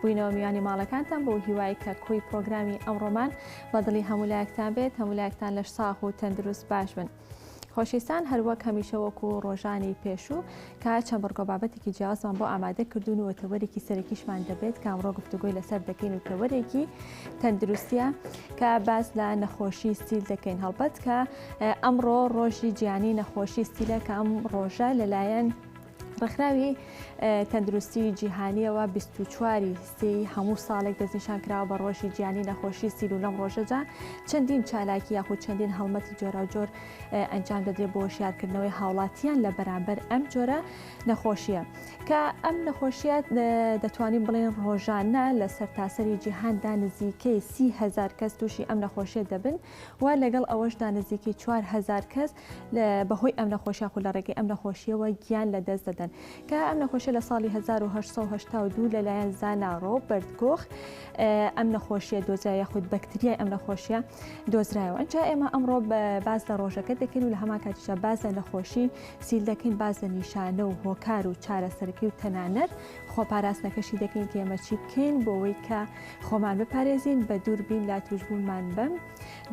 بووینەوە میوانی ماڵەکانتان بۆ هیوای کە کۆی پرۆگرامی ئەمڕۆمان بە دڵی هەموو لایەکتان بێت هەموو لایەکتان لەش ساغ و تەندروست باش بن. خۆشیستان هەروەک هەمیشە وەکو ڕۆژانی پێشوو کە چەند بڕگۆ بابەتێکی جیازمان بۆ ئامادە کردوون و تەوەرێکی سەرەکیشمان دەبێت کامڕۆ گفتوگۆی لەسەر دەکەین و تەوەرێکی تەندروستە کە باس لە نەخۆشی ستیل دەکەین هەڵبەت کە ئەمڕۆ ڕۆژی جیانی نەخۆشی ستیلە کە ئەم ڕۆژە لەلایەن ڕێکخراوی تەندروستی جیهانیەوە 24 ی سی هەموو ساڵێک دەستنیشان کراوە بە ڕۆژی جیانی نەخۆشی سیل و لەم ڕۆژەدا چەندین چالاکی یاخود چەندین هەڵمەتی جۆراوجۆر ئەنجام دەدرێت بۆ شارکردنەوەی هاوڵاتیان لە بەرامبەر ئەم جۆرە نەخۆشیە کە ئەم نەخۆشیە دەتوانین بڵێن ڕۆژانە لە سەرتاسەری جیهاندا نزیکەی سیهزار کەس تووشی ئەم نەخۆشیە دەبن و لەگەڵ ئەوەشدا نزیکەی 4هزار کەس بەهۆی ئەم نەخۆش یاخود لە ڕێگەی ئەم نەخۆشیەوە گیان لە دەست دەدەن کە ئەم نەخۆشە لە ساڵی 1970 لەلایەن زاناڕۆ بەردکۆخ ئەم نەخۆشیە دۆزای یاخود بەکتریای ئەم نەخۆشیە دۆزرایەوە ئەجا ئێمە ئەمڕۆ باز لە ڕۆژەکە دەکەین و لە هەما کاتیشە باز لە نەخۆشی سیل دەکەین باز لە نیشانە و هۆکار و چارەسەرکی و تەنانەت خۆپاراستنەکەشی دەکەین کێمە چی بکەین بۆەوەی کە خۆمان بپارێزین بە دووربین لا توشببوومان بم.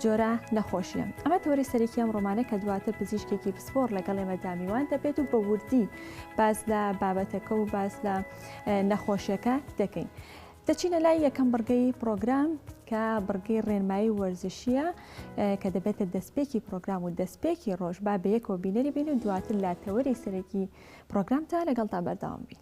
جۆرە نەخۆشیە. ئەمە تۆری سەرەکی ئەم ڕۆمانە کە دواتر پزیشکێکی پسپۆڕ لەگەڵ ئێمە دامیوان دەبێت و بە وردی باز لە بابەتەکە و باز لە نەخۆشیەکە دەکەین. دەچینە لای یەکەم بڕگەی پرۆگرام کە بڕگەی ڕێنمایی وەرزشیە کە دەبێتە دەستپێکی پرۆگرام و دەستپێکی ڕۆژ با بەیەکەوە بینەری بین و دواتر لا تەوەری سەرەکی پرۆگرامتان لەگەڵتا بەرداوام بین.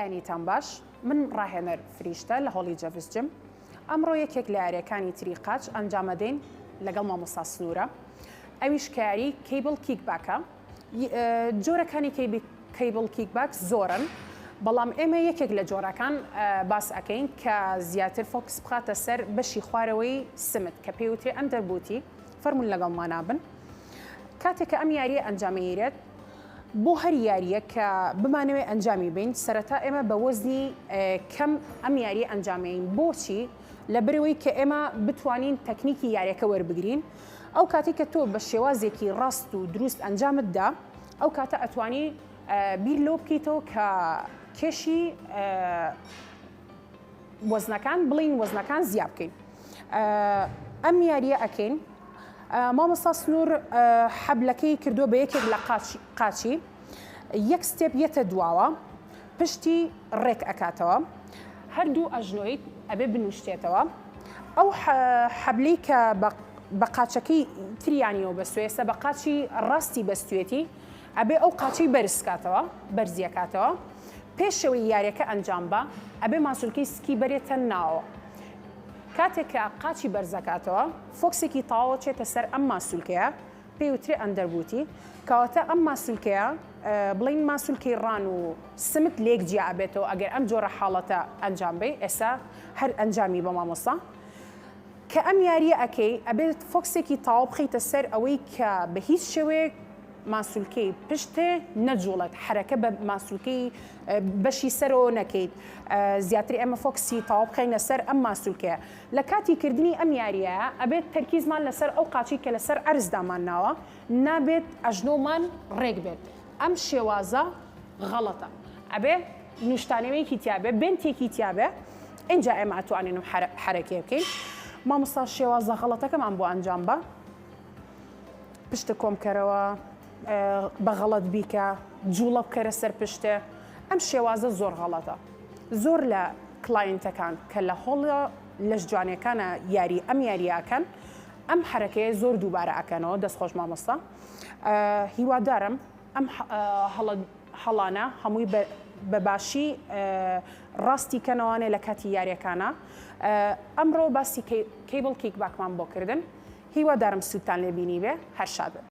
بەیانیتان باش من ڕاهێنەر فریشتە لە هۆڵی جەڤس جم ئەمڕۆ یەکێک لە یاریەکانی تری قاچ ئەنجامەدەین لەگەڵ مامۆستا سنوورە ئەویش کاری کەیبڵ کیک باکە جۆرەکانی کەیبڵ کیک باکس زۆرن بەڵام ئێمە یەکێک لە جۆرەکان باس ئەەکەین کە زیاتر فۆکس بخاتە سەر بەشی خوارەوەی سمت کە پێوتێ ئەم دەربوتی فەرمونون لەگەڵ مانابن کاتێککە ئەم یاریە ئەنجامیرێت بۆ هەر یاریە کە بمانەوێت ئەنجامی بین سەرەتا ئێمە بە وەزنی کەم ئەم یاری ئەنجامین بۆچی لە برەوەی کە ئێمە بتوانین تەکنیکی یاریەکە وەربگرین ئەو کاتەی کە تۆ بە شێوازێکی ڕاست و دروست ئەنجامت دا ئەو کاتە ئەتوانی بیر لەوە بکەیتەوە کە کێشی وەزنەکان بڵین وەزنەکان زیاب بکەین ئەم یاریە ئەکەین مامۆستا سنوور حەبلەکەی کردو بە یەکێک لە قاچی یەک ستێپ یەتە دواوە پشتی ڕێک ئەکاتەوە هەردوو ئەژنۆی ئەبێ بنوشتێتەوە ئەو حەبلی کە بە قاچەکەی تریانیەوە بەستوێسە بە قاچی ڕاستی بەستێتی ئەبێ ئەو قاچی بەرزکاتەوە بەرزیەکاتەوە پێشەوەی یاریەکە ئەنجام بە ئەبێ ماسولکەی سکی بەرێتە ناوە کاتێکە قاچی بەرزەکاتەوە فۆکسێکی تاوە چێتە سەر ئەم ماسولکەیە پێی وترێ ئەندەربووتی کەواتە ئەم ماسولکەیە بڵێن ماسولکەی ڕان و سمت لێک جیا ئەبێتەوە ئەگەر ئەم جۆرە حاڵەتە ئەنجام بەی ئێستا هەر ئەنجامی بە مامۆستا کە ئەم یاریە ئەکەی ئەبێت فۆکسێکی تاو بخیتە سەر ئەوەی کە بە هیچ شێوەیەک ماسولکەی پشتێ نەجوڵێت حرەکە بە ماسولکەی بەشی سەرەوە نەکەیت زیاتر ئێمە فۆکسی تاو بخینە سەر ئەم ماسولکەیە لە کاتی کردنی ئەم یارییە ئەبێت تەرکیزمان لەسەر ئەو قاچەی کە لەسەر عەرز دامانناوە نابێت ئەژنۆمان ڕێک بێت ئەم شێوازە غەڵەتە ئەبێ نوشتانەوەیەکی تیابێ بنتێکی تیابێ ئینجا ئێمە ئەتوانین حەرەکێ بکەین مامۆستا شێوازە غەڵەتەکەمان بۆ ئەنجام بە پشتە کۆمکەرەوە بە غەڵەت بیکە جوڵە بکەرە سەر پشتێ ئەم شێوازە زۆر غەڵەتە زۆر لە کلاینتەکان کە لە هۆڵە لەش جوانەکانە یاری ئەم یاریاکەن ئەم حرەکەیە زۆر دووبارە ئەکەنەوە دەست خۆش مامۆستا هیوادارم ئەم هەڵانە هەمووی بەباشی ڕاستی کەنەوانێ لە کاتی یاریەکانە ئەمڕۆ باسی کەیبڵ کیک باکمان بۆ کردن هیوادارم سوودتان لێبینی بێ هەرشاد.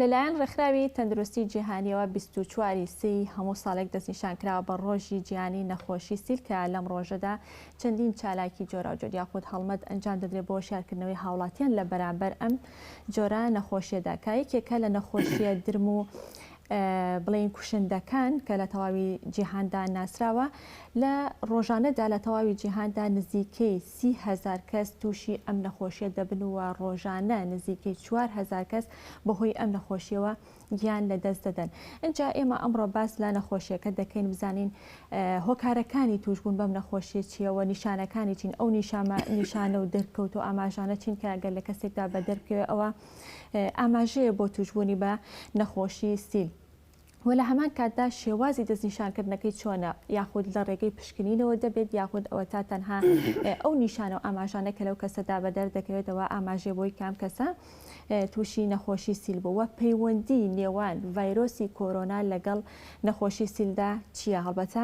لەلایەن ڕێکخراوی تەندروستی جیهانیەوە 24 سی هەموو ساڵێک دەستنیشانکراوە بە ڕۆژی جیانی نەخۆشی سیلکە لەم ڕۆژەدا چەندین چالاکی جۆراوجۆر یاخود هەڵمەت ئەنجام دەدرێت بۆ شارکردنەوەی هاوڵاتیان لە بەرامبەر ئەم جۆرە نەخۆشیەدا کایەکێکە لە نەخۆشیە درم و بڵێین کوشندەکان کە لە تەواوی جیهاندا ناسراوە، لە ڕۆژانەدا لە تەواوی جیهاندا نزیکەی سی هەزار کەس تووشی ئەم نەخۆشییە دەبن و ڕۆژانە نزیکەی چوار هەزار کەس بەهۆی ئەم نەخۆشییەوە گیان لەدەست دەدەن. ئینجا ئێمە ئەمڕۆ باس لە نەخۆشییەکە دەکەین بزانین هۆکارەکانی تووشبوون بەم نەخۆشییە چییە و نیشانەکانی چین، ئەو نیشانە و دەرکەوت و ئاماژانە چین کە گەر لە کەسێکدا بەدەر بکەوێت ئەوا ئاماژەیە بۆ تووشبوونی بە نەخۆشی سیل و لە هەمان کاتدا شێوازی دەستنیشانکردنەکەی چۆنە یاخود لە ڕێگەی پشکنینەوە دەبێت یاخود ئەوە تا تەنها ئەو نیشانە و ئاماژانە کە لەو کەسەدا بە دەردەکەوێتەوە ئاماژێ بۆی کام کەسە تووشی نەخۆشی سیل بووە پەیوەندی نێوان ڤایرۆسی کۆرۆنا لەگەڵ نەخۆشی سیلدا چییە هەڵبەتە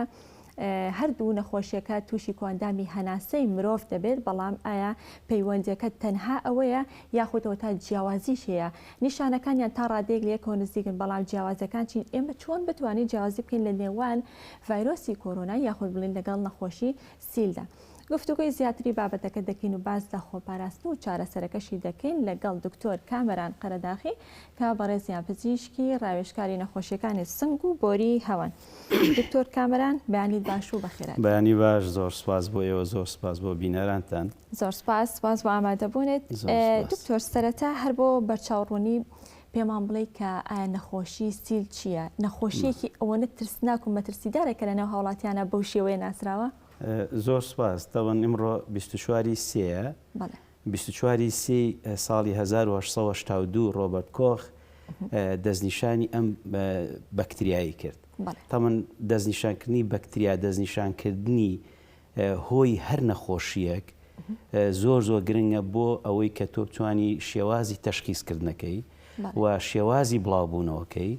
هەردوو نەخۆشیەکە تووشی کواندامی هەناسەی مرۆڤ دەبێت، بەڵام ئایا پەیوەندیەکە تەنها ئەوەیە یاخود ئەوەتا جیاوازیش هەیە؟ نیشانەکانیان تا ڕادەیەک لە یەکەوە نزیکن، بەڵام جیاوازیەکان چین؟ ئێمە چۆن بتوانین جیاوازی بکەین لە نێوان ڤایرۆسی کۆرۆنا یاخود بڵێین لەگەڵ نەخۆشی سیلدا؟ گفتوگۆی زیاتری بابەتەکە دەکەین و باس لە خۆپاراستن و چارەسەرەکەشی دەکەین لەگەڵ دکتۆر کامەران قەرەداخی کە بەڕێزیان پزیشکی ڕاوێژکاری نەخۆشیەکانی سنگ و بۆری هەوان. دکتۆر کامەران بەیانی باش و بەخێرات. بەیانی باش زۆر سوپاس بۆ ئێوە زۆر سوپاس بۆ بینەرانتان. زۆر سوپاس سوپاس بۆ ئامادەبوونت. دکتۆر سەرەتا هەر بۆ بەرچاو ڕوونی پێمان بڵێ کە ئایا نەخۆشی سیل چییە؟ نەخۆشیەکی ئەوەنە ترسناک و مەترسیدارە کە لە ناو هاوڵاتیانە بەو شێوەیە ناسراوە؟ زۆر سوپاس دەڵێن ئیمڕۆ بیست و چواری سێیە. بەڵێ. بیست و چوار ی سی ساڵی هەزار و هەشت سەد و هەشتا و دوو ڕۆبەرت کۆخ دەستنیشانی ئەم بەکتریایەی کرد تەمەن دەستنیشانکردنی بەکتریا دەستنیشانکردنی هۆی هەر نەخۆشیەک زۆر زۆر گرنگە بۆ ئەوەی کە تۆ بتانی شێوازی تەشخیزکردنەکەی و شێوازی بڵاوبوونەوەکەی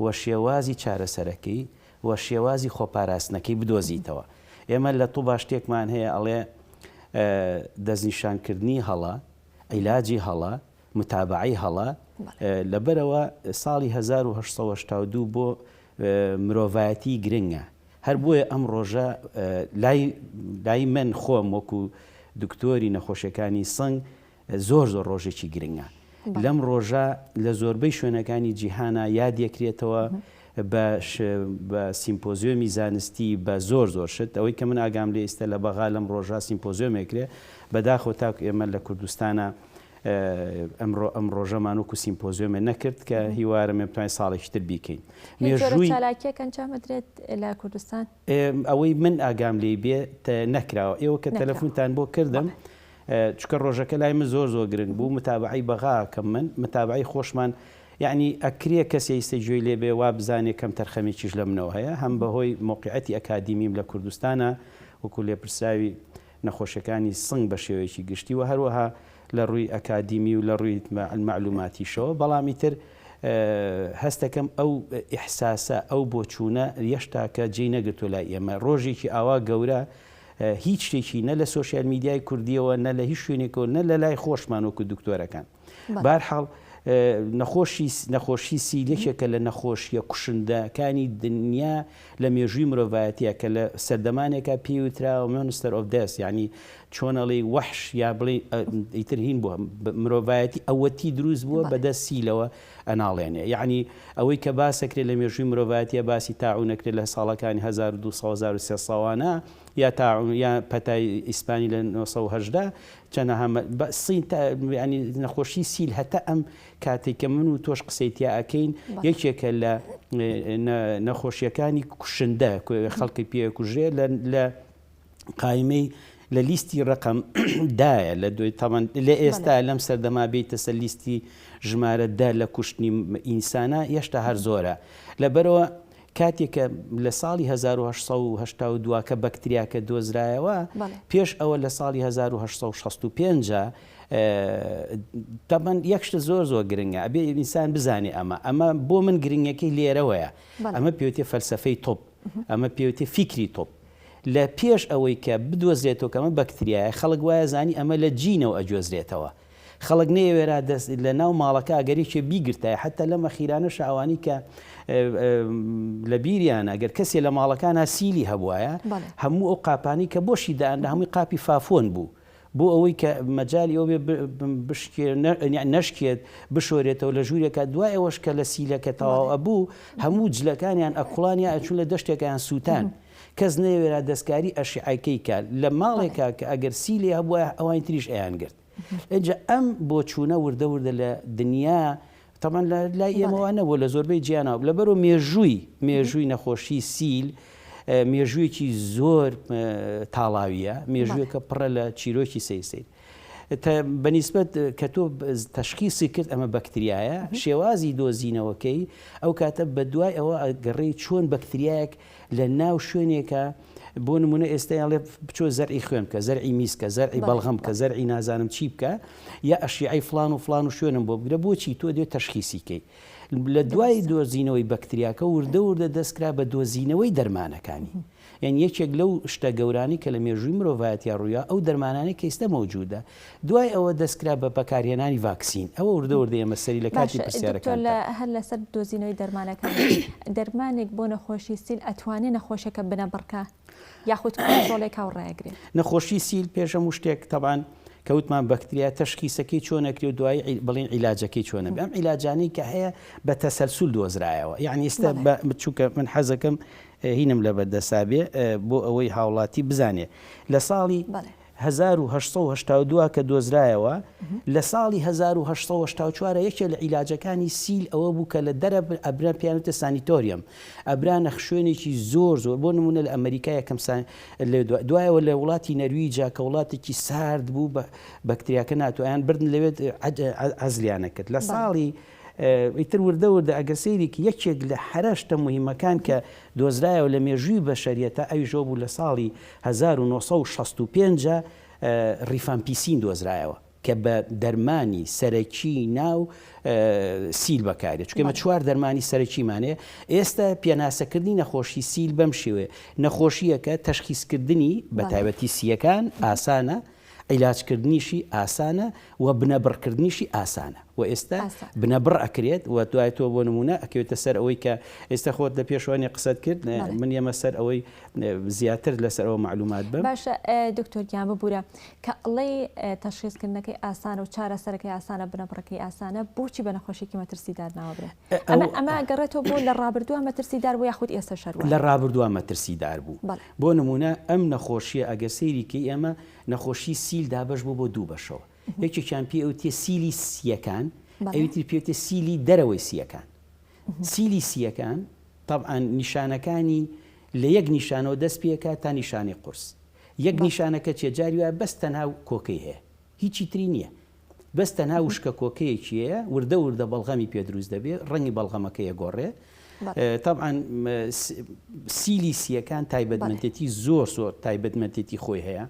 و شێوازی چارەسەرەکەی و شێوازی خۆپاراستنەکەی بدۆزیتەوە ئێمە لە طوبا شتێکمان هەیە ئەڵێ دەستنیشانکردنی هەڵە عیلاجی هەڵە متابەعەی هەڵە لەبەرەوە ساڵی هەزار و هەشت سەد و هەشتا و دوو بۆ مرۆڤایەتی گرنگە هەر بۆیە ئەم ڕۆژە لای لای من خۆم وەکو دکتۆری نەخۆشیەکانی سنگ زۆر زۆر ڕۆژێکی گرنگە. لەم ڕۆژە لە زۆربەی شوێنەکانی جیهانا یاد یەکرێتەوە بە بە سیمپۆزیۆمی زانستی بە زۆر زۆر شت ئەوەی کە من ئاگام لێ ئیستە لە بەغا لەم ڕۆژە سیمپۆزیۆمێکرێ بەداخۆ تاکو ئێمە لە کوردستانە ئەمڕۆ ئەم ڕۆژەمان وکو سیمپۆزیۆمێ نەکرد کە هیوارم توانین ساڵێکی تر بیکەین مێژووی چالاکیەکەنجامدرێت لە کوردستان ئەوەی من ئاگام لێ بێ نەکراوە ئێوە کە تەلەفونتان بۆ کردم چونکە ڕۆژەکە لای من زۆر زۆر گرنگ بوو متابەعەی بەغا ئەکەم من متابەعەی خۆشمان یەعنی ئەکرێ کەسێ ئیستە گوێی لێ بێ وا بزانێ کەم تەرخەمێکیش لە منەوە هەیە هەم بە هۆی مەوقیعەتی ئەکادیمیم لە کوردستانا وەکوو لێپرسراوی نەخۆشیەکانی سنگ بە شێوەیەکی گشتی و هەروەها لە ڕووی ئەکادیمی و لە ڕووی مەعلووماتیشەوە بەڵام ئیتر هەست ئەکەم ئەو ئیحساسە ئەو بۆچوونە یەشتاکە جێی نەگرتووە لای ئێمە ڕۆژێکی ئاوا گەورە هیچ شتێکی نە لە سۆشیال میدیای کوردیەوە نە لە هیچ شوێنێکەوە نە لە لای خۆشمان وەکو دکتۆرەکان بارحاڵ نەخۆشی نەخۆشی سیلێکێکە لە نەخۆشیە کوشندەکانی دنیا لە مێژووی مرۆڤایەتە کە لە سەردەمانێکە پێوترا و مۆنستەر ئۆف دەس ینی چۆنەڵی وەحش یا بڵێ ئیترهین بووە مرۆڤایەتی ئەوەتی دروست بووە بەدەست سیلەوە ئەناڵێنێ یەعنی ئەوەی کە باسەکرێ لە مێژووی مرۆڤایەتیە باسی تاعون ئەکرێ لە ساڵەکانی هەزار و دوو سەد و هەزار و سێ سەوانە یا تاعون یا پەتای ئیسپانی لە نۆ سەد و هەژدە چەنەها مە بە سین تا یەعنی نەخۆشی سیل هەتا ئەم کاتێ کە من و تۆش قسەی تیا ئەکەین یەکێکە لە نە نەخۆشیەکانی کوشندە خەڵکی پێ کوژرێ لە لە قایمەی لە لیستی ڕەقەم دایە لە دوای تاوان لە ئێستا لەم سەردەما بیتەسە لیستی ژمارە دە لە کوشتنی ئینسانە یەشتا هەر زۆرە لەبەرەوە کاتێکە لە ساڵی 1970 دواکە بەکتریاکە دۆزرایەوە پێش ئەوە لە ساڵی 1965 تەبەن یەکشتە زۆر زۆر گرنگە ئەبێ ئینسان بزانێ ئەمە ئەمە بۆ من گرنگەکەی لێرەوەیە ئەمە پێوتێ فەلسفەی تۆپ ئەمە پێوتێ فیکری تۆپ لە پێش ئەوەی کە بدۆزرێتەوە کە ئەمە بەکتریایە خەڵک وایە زانی ئەمە لە جینەوە ئەگۆزرێتەوە خەڵک نەیەوێرا دەست لە ناو ماڵەکە ئەگەر یەکێ بیگرتایە حەتتا لەم ئەخیرانەشە ئەوانی کە لە بیریانە ئەگەر کەسێ لە ماڵەکانە سیلی هەبوایە هەموو ئەو قاپانی کە بۆشی دایان لە هەمووی قاپی فافۆن بوو بۆ ئەوەی کە مەجالی ئەوە بێ بشکێ یانی نەشکێت بشۆرێتەوە لە ژوورێکە دوای ئەوەش کە لە سیلەکە تەواو ئەبوو هەموو جلەکانیان ئەکوڵانیا ئەچوو لە دەشتێکیان سووتان کەس نەیەوێرا دەستکاری ئەشیعەکەی کا لە ماڵێکا کە ئەگەر سی لێ هەبووە ئەوانی تریش ئەیان گرت ئێجا ئەم بۆچوونە وردە وردە لە دنیا تەبعەن لە لای ئێمە وا نەبووە لە زۆربەی جیانەوە لەبەرو مێژووی مێژووی نەخۆشی سیل مێژوویەکی زۆر تاڵاویە مێژووەکە پڕە لە چیرۆکی سەیر سیر بەنیسبەت کە تۆ تشخیصی کرد ئەمە بەکتریایە شێوازی دۆزینەوەکەی ئەو کاتە بە دوای ئەوە گەڕی چۆن بەکتریایەک لە ناو شوێنێکە بۆ نمونە ئێستا ئەڵێ بچۆ زەرعی خوێن بکە زەرعی میسکە زەرعی بەڵغم کە زەرعی نازانم چی بکە یا ئەشیعی فلان و فلان و شوێنم بۆ بگرە بۆچی تۆ دێت تەشخیسیکەی لە دوای دۆزینەوەی بەکتریاکە وردە وردە دەستکرا بە دۆزینەوەی دەرمانەکانی یان یەکێک لەو شتە گەورانی کە لە مێژووی مرۆڤایەتیا ڕوویا ئەو دەرمانانی کەیستە مەوجودە دوای ئەوە دەستکرا بە بەکارهێنانی ڤاکسین. ئەوە وردە وردە ئێمە سەری لە کاتی پرسیارەکانتان. باشە دکتۆر هەر لەسەر دۆزینەوەی دەرمانەکان دەرمانێک بۆ نەخۆشی سیل ئەتوانێ نەخۆشەکە بنەبڕکا یاخود کۆنترۆڵێکا و ڕایگرێ؟ نەخۆشی سیل پێش هەموو شتێک تەبعەن کە وتمان بەکتریا تەشخیسەکەی چۆن ئەکرێ و دوایی بڵێین عیلاجەکەی چۆنە بێ؟ ئەم عیلاجانەی کە هەیە بە تەسەلسول دۆزرایەوە یانی ئێستا چووکە من حەزەکەم هینم لەبەردەستا بێ بۆ ئەوەی هاوڵاتی بزانێ لە ساڵی هەزار و هەشت سەد و هەشتا و دوو کە دۆزرایەوە لە ساڵی هەزار و هەشت سەد و هەشتا و چوار یەکێ لە عیلاجەکانی سیل ئەوە بوو کە لە دەرە ئەبرا پێیان وتە سانیتۆریەم ئەبرا نە خوێنێکی زۆر زۆر بۆ نمونە لە ئەمەریکا یەکەم سان لێ دو دوایەوە لە وڵاتی نەروی جا کە وڵاتێکی سارد بوو بە بەکتریاکە ناتوایان بردن لەوێت عەد عەزلیانە کرد لە ساڵی ئیتر وردە وردە ئەگەر سەیری کە یەکێک لە حەرە شتە موهیمەکان کە دۆزرایەوە لە مێژووی بەشەریەتا ئەویش ئەو بوو لە ساڵی هەزار و نۆ سەد و شەست و پێنج ڕیفامپیسین دۆزرایەوە کە بە دەرمانی سەرەکی ناو سیل بەکاریە چکە مە چوار دەرمانی سەرەکیمانەیە ئێستا پێناسەکردنی نەخۆشی سیل بەم شێوێ نەخۆشیەکە تەشخیسکردنی بە تایبەتی سیەکان ئاسانە عیلاج کردنیشی ئاسانە و بنەبڕ کردنیشی ئاسانە و ئێستا بنەبڕ ئەکرێت و دوای تۆ بۆ نمونە ئەکەوێتە سەر ئەوەی کە ئێستا خۆت لە پێشوانی قسەت کرد من یەمە سەر ئەوەی زیاتر لەسەر ئەوە معلومات بم باشە دکتۆرگیان ببوورە کە ئەڵەی تەشخیزکردنەکەی ئاسانە و چارە سەرەکەی ئاسانە بنەبڕەکەی ئاسانە بۆچی بە نەخۆشیکی مەترسی دارناوەبێت ئەمە گەڕێتەوە بۆ لە ڕابردووە مەترسی دار بۆ یاخود ئێستا شەر لە ڕابردووە مەترسی دار بوو بۆ نموونە ئەم نەخۆشییە ئەگەر سەیری کەی ئێمە نەخۆشی سیل دابەش بوو بۆ دوو بەشەوە یەکێکیان پێ ئەوتێ سیلی سییەکان ئەویتر پێێتێ سیلی دەرەوەی سییەکان سیلی سییەکان تەبعاان نیشانەکانی لە یەک نیشانەوە دەست پێکات تا نیشانەی قورس یەک نیشانەکە چێ جاری وایە بەس تەنها کۆکەی هەیە هیچی تری نییە بەس تەنها وشکە کۆکەیەکیەیە وردە وردە بەڵغەمی پێ دروست دەبێ ڕەنگی بەڵغەمەکە یەگۆڕێ تەبعەن سیلی سیەکان تایبەتمەندێتی زۆر زۆر تایبەتمەندێتی خۆی هەیە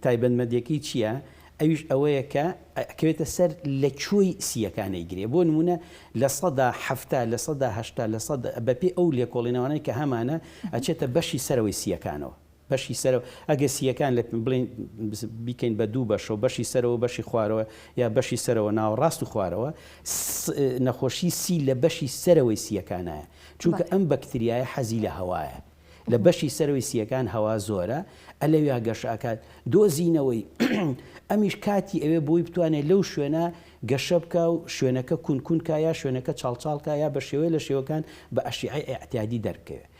تایبەتمەندەکەی چییە؟ ئەویش ئەوەیە کە ئەکەوێتە سەر لە کوێی سیەکانەی گرێ بۆ نمونە لە سەدا هەفتا لە سەدا هەشتا لە سەد بەپی ئەو لێکۆڵینەوانەی کە هەمانە ئەچێتە بەشی سەرەوەی سیەکانەوە بەشی سەرەوە، ئەگەر سییەکان لە بڵێین بیکەین بە دوو بەشەوە، بەشی سەرەوە و بەشی خوارەوە، یا بەشی سەرەوە، ناوەڕاست و خوارەوە، س نەخۆشی سی لە بەشی سەرەوەی سییەکانایە، چونکە ئەم بەکتریایە حەزی لە هەوایە، لە بەشی سەرەوەی سییەکان هەوا زۆرە، ە لەویا گەشە ئەکات، دۆزینەوەی، ئەمیش کاتی ئەوێ بۆی بتوانێت لەو شوێنە گەشە بکا و شوێنەکە کون کون کا یا شوێنەکە چاڵ چاڵ کا یا بە شێوەیە لە شێوەکان بە ئەشیعەی ئیعتیادی دەربکەوێت.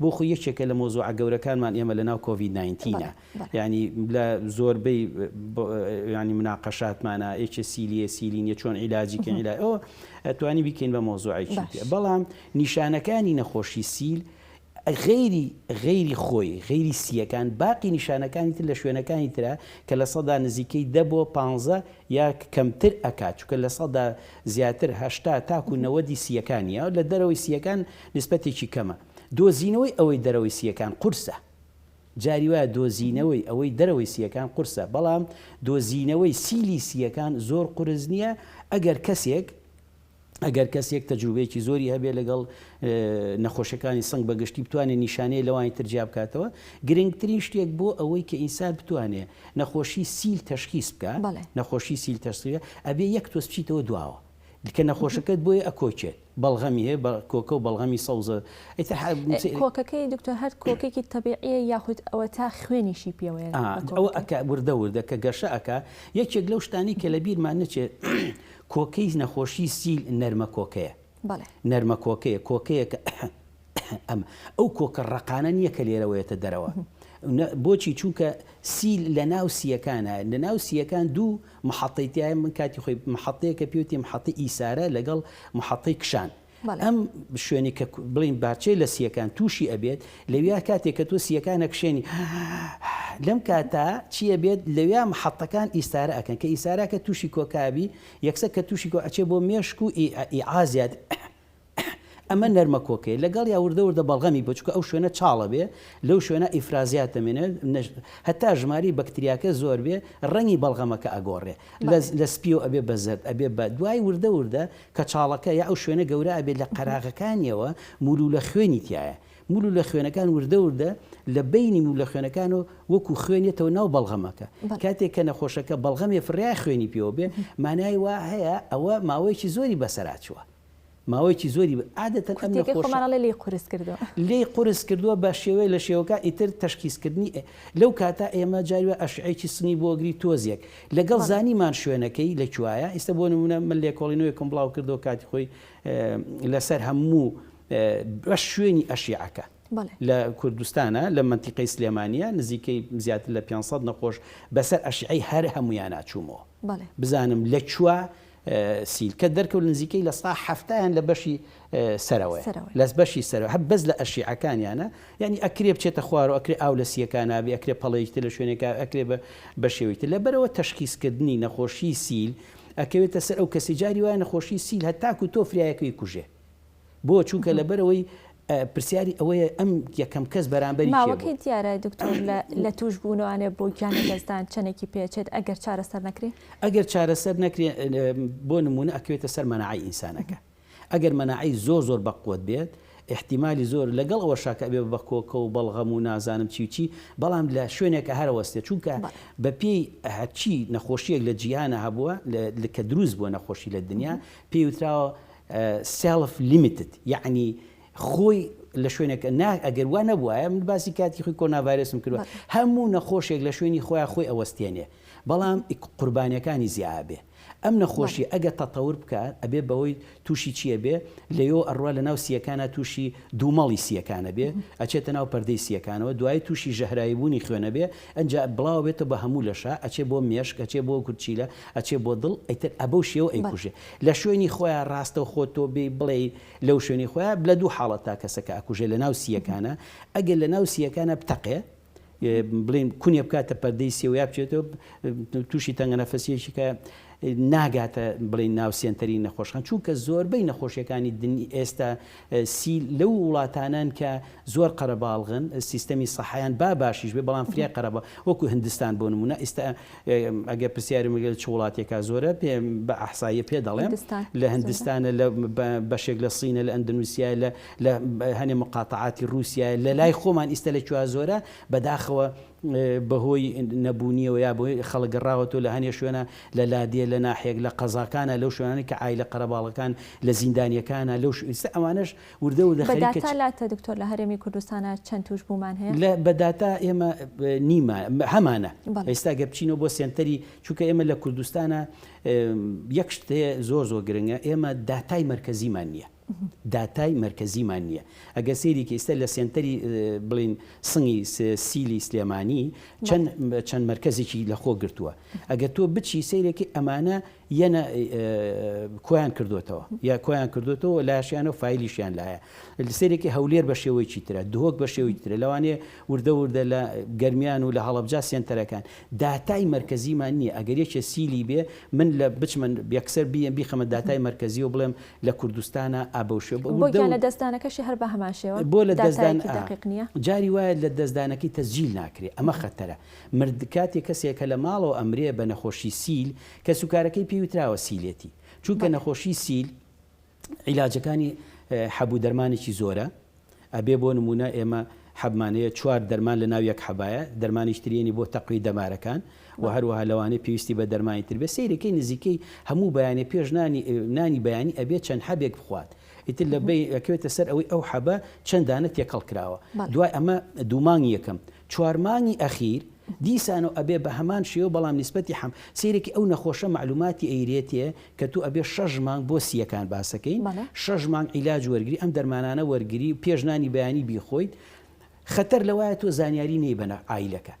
بۆ خۆی یەکێکە لە مەوزوعە گەورەکانمان ئێمە لە ناو کۆڤید ناینتین ە یانی لە زۆربەی یانی مناقەشاتمانە ئێچ سیلیە سیلینیە چۆن عیلاجی کە عیلا ئەوە ئەتوانی بیکەین بە مەوزوعێکی بەڵام نیشانەکانی نەخۆشی سیل غەیری غەیری خۆی غەیری سییەکان باقی نیشانەکانی تر لە شوێنەکانی ترە کە لە سەدا نزیکەی دە بۆ پ یا کەمتر ئەکات چکە لە سەدا زیاتر هەشتا تاکو نەوەدی سییەکانە لە دەرەوەی سییەکان نیسبەتێکی کەمە. دۆزینەوەی ئەوەی دەرەوەی سییەکان قورسە. جاری وایە دۆزینەوەی ئەوەی دەرەوەی سییەکان قورسە، بەڵام دۆزینەوەی سیلی سییەکان زۆر قورس نییە ئەگەر کەسێک ئەگەر کەسێک تەجروبەیەکی زۆری هەبێت لەگەڵ نەخۆشەکانی سنگ بە گشتی بتوانێت نیشانەی لەوانی تر جیا بکاتەوە گرنگترین شتێک بۆ ئەوەی کە ئینسان بتوانێت نەخۆشی سیل تەشخیس بکات نەخۆشی سیل تەشخیس ئەبێ یەک تۆز بچیتەوە دواوە لکە نەخۆشەکەت بۆیە ئەکۆکێت بەڵغەمی هەیە بە کۆکە و بەڵغەمی سەوزە ئیتر حە م سێ. کۆکەکەی دکتۆر هەر کۆکێکی تەبیعیە یاخود ئەوەتا خوێنیشی پێوەیە ئا لە ئەوە کۆکەکەی؟ ئەکا وردە وردە کە گەشە ئەکا یەکێک لەو شتانەی کە لە بیرمان نەچێ کۆکەی نەخۆشی سیل نەرمە کۆکەیە بەڵێ. نەرمە کۆکەیە کۆکەیە کە ئەمە ئەو کۆکە ڕەقانە نییە کە لێرەوەیەتە دەرەوە. بۆچی چووکە سی لە ناو سییەکانە لە ناو سییەکان دوو محەتەی تایە من کاتی خۆی محەتەیە کە پێوتی محەتی ئیسارە لەگەڵ محەتەی کشان. ئەم شوێنی کە بڵین بارچەی لە سیەکان تووشی ئەبێت لەویا کاتێک کە تۆ سیەکان نەکشێنی لەم کاتا چیە بێت لەویا محەتەکان ئیسارە ئەکەن کە ئیسارە کە تووشی کۆکابی یەکسە کە تووشی کۆ ئەچێ بۆ مێشک و ئیعازیات ئەمە نەرمە کۆکەیە لەگەڵیا وردە وردە بەڵغەمی بە چونکە ئەو شوێنە چاڵە بێ لەو شوێنە ئیفرازیات دەمێنێ نەش هەتا ژماری بەکتریاکە زۆر بێ ڕەنگی بەڵغەمەکە ئەگۆڕێ لە لە سپیەوە ئەبێ بە زەرد ئەبێ بە دوای وردە وردە کە چاڵەکە یا ئەو شوێنە گەورە ئەبێ لە قەراغەکانیەوە مولولە خوێنی تایە مولولە خوێنەکان وردە وردە لە بینی مولە خوێنەکان و وەکو خوێنێتەوە ناو بەڵغەمەکە کاتێک کە نەخۆشەکە بەڵغەمێ فریای خوێنی پێوە بێ مانای وا هەیە ئەوە ماوەیەکی زۆری بەسەراچوە ماوەیەکی زۆری بە عادەتەن ئەم کورتیەکەی نەخۆشە خۆمان ئەڵێ لێی قورس کردووە. لێی قورس کردووە بە شێوەی لە شێوەکان ئیتر تەشخیسکردنی ئێ لەو کاتە ئێمە جاری وایە ئەشعەیەکی سنی بۆ گری تۆزێک لەگەڵ بەڵێ. زانیمان شوێنەکەی لە کوایە ئیستە بۆ نموونە من لێکۆڵینەوەێکم بڵاو کردەوە کاتی خۆی لەسەر هەموو بەش شوێنی ئەشیعەکە بەڵێ. لە کوردستانا لە مەنتیقەی سلێمانیە نزیکەی زیاتر لە پێنج سەد نەخۆش بەسەر ئەشیعەی هەر هەموویانا چوومەوە بەڵێ. بزانم لە کوا سیلکە دەرکەوت نزیکەی لە سا حەفتا یان لە بەشی سەرەوەیە سەرەوەی. لە بەشی سەرەوە هەر بەس لە ئەشیعەکانیانە یانی ئەکرێ بچێتە خوارەوە ئەکرێ ئاو لە سییەکانا بێ ئەکرێ پەڵەیەکی تر لە شوێنێکا بێ ئەکرێ بە بە شێوەی تر لەبەرئەوە تەشخیس کردنی نەخۆشیی سیل ئەکەوێتە سەر ئەو کەسەی جاری وایە نەخۆشیی سیل هەتاکوو تۆ فریا یەکەو یکوژێ بۆ چونکە لەبەرئەوەی پرسیاری ئەوەیە ئەم یەکەم کەس بەرامبەری کێ بوو؟ ماوەکەی دیارە دکتۆر لە تووش بوونوانێ بۆ گیان لەدەستدان چەندێکی پێچێت ئەگەر چارەسەر نەکرێ؟ ئەگەر چارەسەر نەکرێ بۆ نموونە ئەکەوێتە سەر مەناعەی ئینسانەکە ئەگەر مەناعەی زۆر زۆر بەقوەت بێت ئیحتیمالی زۆر لەگەڵ ئەوەشا کە ئەبێ بە کۆکە و بەڵغەم و نازانم چی و چی بەڵام لە شوێنێکە هەر ئەوەستێ چونکە بەپێی هەرچی نەخۆشیەک لە جیهانە هەبووە کە دروست بووە نەخۆشی لە دنیا پێی وتراوە سێڵف لیمیتد یەعنی خۆی لە شوێنەکە نا ئەگەر وا نەبوایە من باسی کاتی خۆی کۆناڤایرسم کردوە هەموو نەخۆشێک لە شوێنی خۆیان خۆی ئەوەستێنێ بەڵام قوربانیەکانی زیابێ ئەم نەخۆشی ئەگە تەتەور بکات ئەبێ بەوەی تووشی چییە بێ لەیۆ ئەڕوا لە ناو سیەکانە تووشی دوومەڵی سیەکانە بێ ئەچێتە ناو پەردەی سیەکانەوە دوای تووشی ژەهرایی بوونی خوێنە بێ ئەجا بڵاو بێتە بە هەموو لەشە ئەچێ بۆ مێشک ئەچێ بۆ گورچیلە ئەچێ بۆ دڵ ئەیتر ئەبەو شێوە ئەیکوژێ لە شوێنی خۆیا ڕاستەوخۆ تۆ بێی بڵێی لەو شوێنی خۆیا لە دوو حاڵەتا کەسەکە ئەکوژێ لە ناو سییەکانا ئەگەر لە ناو سییەکانا بتەقێ بڵێن کونێ بکاتە پەردەی سێ و یا بچێتەوە تووشی تەنگەنەفەسیەکی کە ناگاتە بڵێن ناو سێنتەری نەخۆشخان چونکە زۆربەی نەخۆشیەکانی دنی ئێستا سی لەو وڵاتانەن کە زۆر قەرەباڵغن سیستەمی سەحەیان با باشیش بێ بەڵام فرە قەرەبا وەکو هندستان بۆ نمونە ئیستا ئەگەر پرسیارم گەل چ وڵاتێکا زۆرە پێ بە ئەحساییە پێ دەڵێم لە هندستانە لە بەشێک لە سینە لە ئەندنوسیا لە لە هەنێ مقاتعاتی رووسیا لە لای خۆمان ئیستا لە کوا زۆرە بەداخەوە بەهۆی نەبوونیەوە یا بەهۆی خەڵک گەڕاوەتەوە لە هەنێ شوێنە لە لادێ لە ناحیەک لە قەزاکانە لەو شوێنانەی کە عایلە قەرەباڵغەکان لە زیندانیەکانە لەو شوێ ئیستا ئەوانەش وردە وردە خەریکە چ بە داتا لاتە دکتۆر لە هەرێمی کوردستانە چەند توشبوومان هەیە؟ لە بە داتا ئێمە نیمە هەمانە بەڵێ. ئێستا گەر بچینەوە بۆ سێنتەری چونکە ئێمە لە کوردستانە یەک شت هەیە زۆر زۆر گرنگە ئێمە داتای مەرکەزیمان نیە داتای مەرکەزیمان نییە ئەگەر سەیرێکی ئیستە لە سێنتەری بڵێن سنگی سیلی سلێمانی چەند چەند مەرکەزێکی لە خۆ گرتووە ئەگەر تۆ بچی سەیرێکی ئەمانە یەنە کۆیان کردوێتەوە یا کۆیان کردوێتەوە لاشیانە و فیلیشیان لایە سەرێکی هەولێر بە شێوەیەکی ترە دهۆک بە شێوەی ترە لەوانێ وردە وردە لە گەرمیان و لە هەڵبجا سێنتەرەکان داتای مەرکەزیمان نیە ئەگەر یەکێ سیلی بێ من لە بچمە یەکسەر بیێم بیخەمە داتای مەرکەزی و بڵێم لە کوردستانا ئابەوشێ بۆ گیان لە دەستدانەکەشی هەر بەهەمان شێوە بۆ لە دەستدان دەقیق نیە جاری وایە لە دەستدانەکەی تەسجیل ناکرێ ئەمە خەتەرە مرد کاتێ کەسێ کە لە ماڵەوە ئەمرێ بە نەخۆشی سیل کەسوکارەکەی پێی وتراوە سیلێتی چونکە نەخۆشی سیل عیلاجەکانی حەب و دەرمانێکی زۆرە ئەبێ بۆ نموونە ئێمە حەبمان هەیە چوار دەرمان لە ناو یەک حەبایە دەرمانیش تریێنی بۆ تەقوی دەمارەکان و هەروەها لەوانەیە پێویستی بە دەرمانی تر بێ سیرەکەی نزیکەی هەموو بەیانێ پێش نانی نانی بەیانی ئەبێ چەند حەبێک بخوات ئیتر لە بی ئەکوێتە سەر ئەوەی ئەو حەبە چەندانە تێکەڵ کراوە دوای ئەمە دوومانگی یەکەم چوارمانگی ئەخیر دیسانەوە ئەبێ بە هەمان شێوە بەڵام نسبەتی حەم سیرێکی ئەو نەخۆشە معلوماتی ئەیرێتێ کە تۆ ئەبێ شەش مانگ بۆ سییەکان باسەکەین بەڵێ. شەش مانگ عیلاج وەرگری ئەم دەرمانانە وەرگری و پێش نانی بەیانی بیخۆیت خەتەر لەوایە تۆ زانیاری نەی بەنە عایلەکە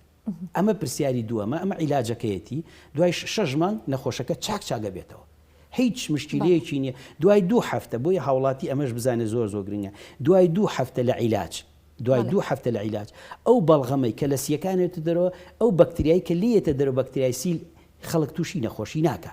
ئەمە پرسیاری دووەمە ئەمە عیلاجەکەیەتی دوای شەش مانگ نەخۆشەکە چاک چاک ئەبێتەوە هیچ بەڵێ. مشکیلەیەکی نییە دوای دوو هەفتە بۆیە هاوڵاتی ئەمەش بزانێ زۆر زۆر گرنگە دوای دوو هەفتە لە عیلاج دوای بەڵێ. دوو هەفتە لە عیلاج ئەو بەڵغەمەی کە لە سییەکان ئەوێتە دەرەوە ئەو بەکتریای کە لێیەتە دەرەوە بەکتریای سیل خەڵک تووشی نەخۆشی ناکا.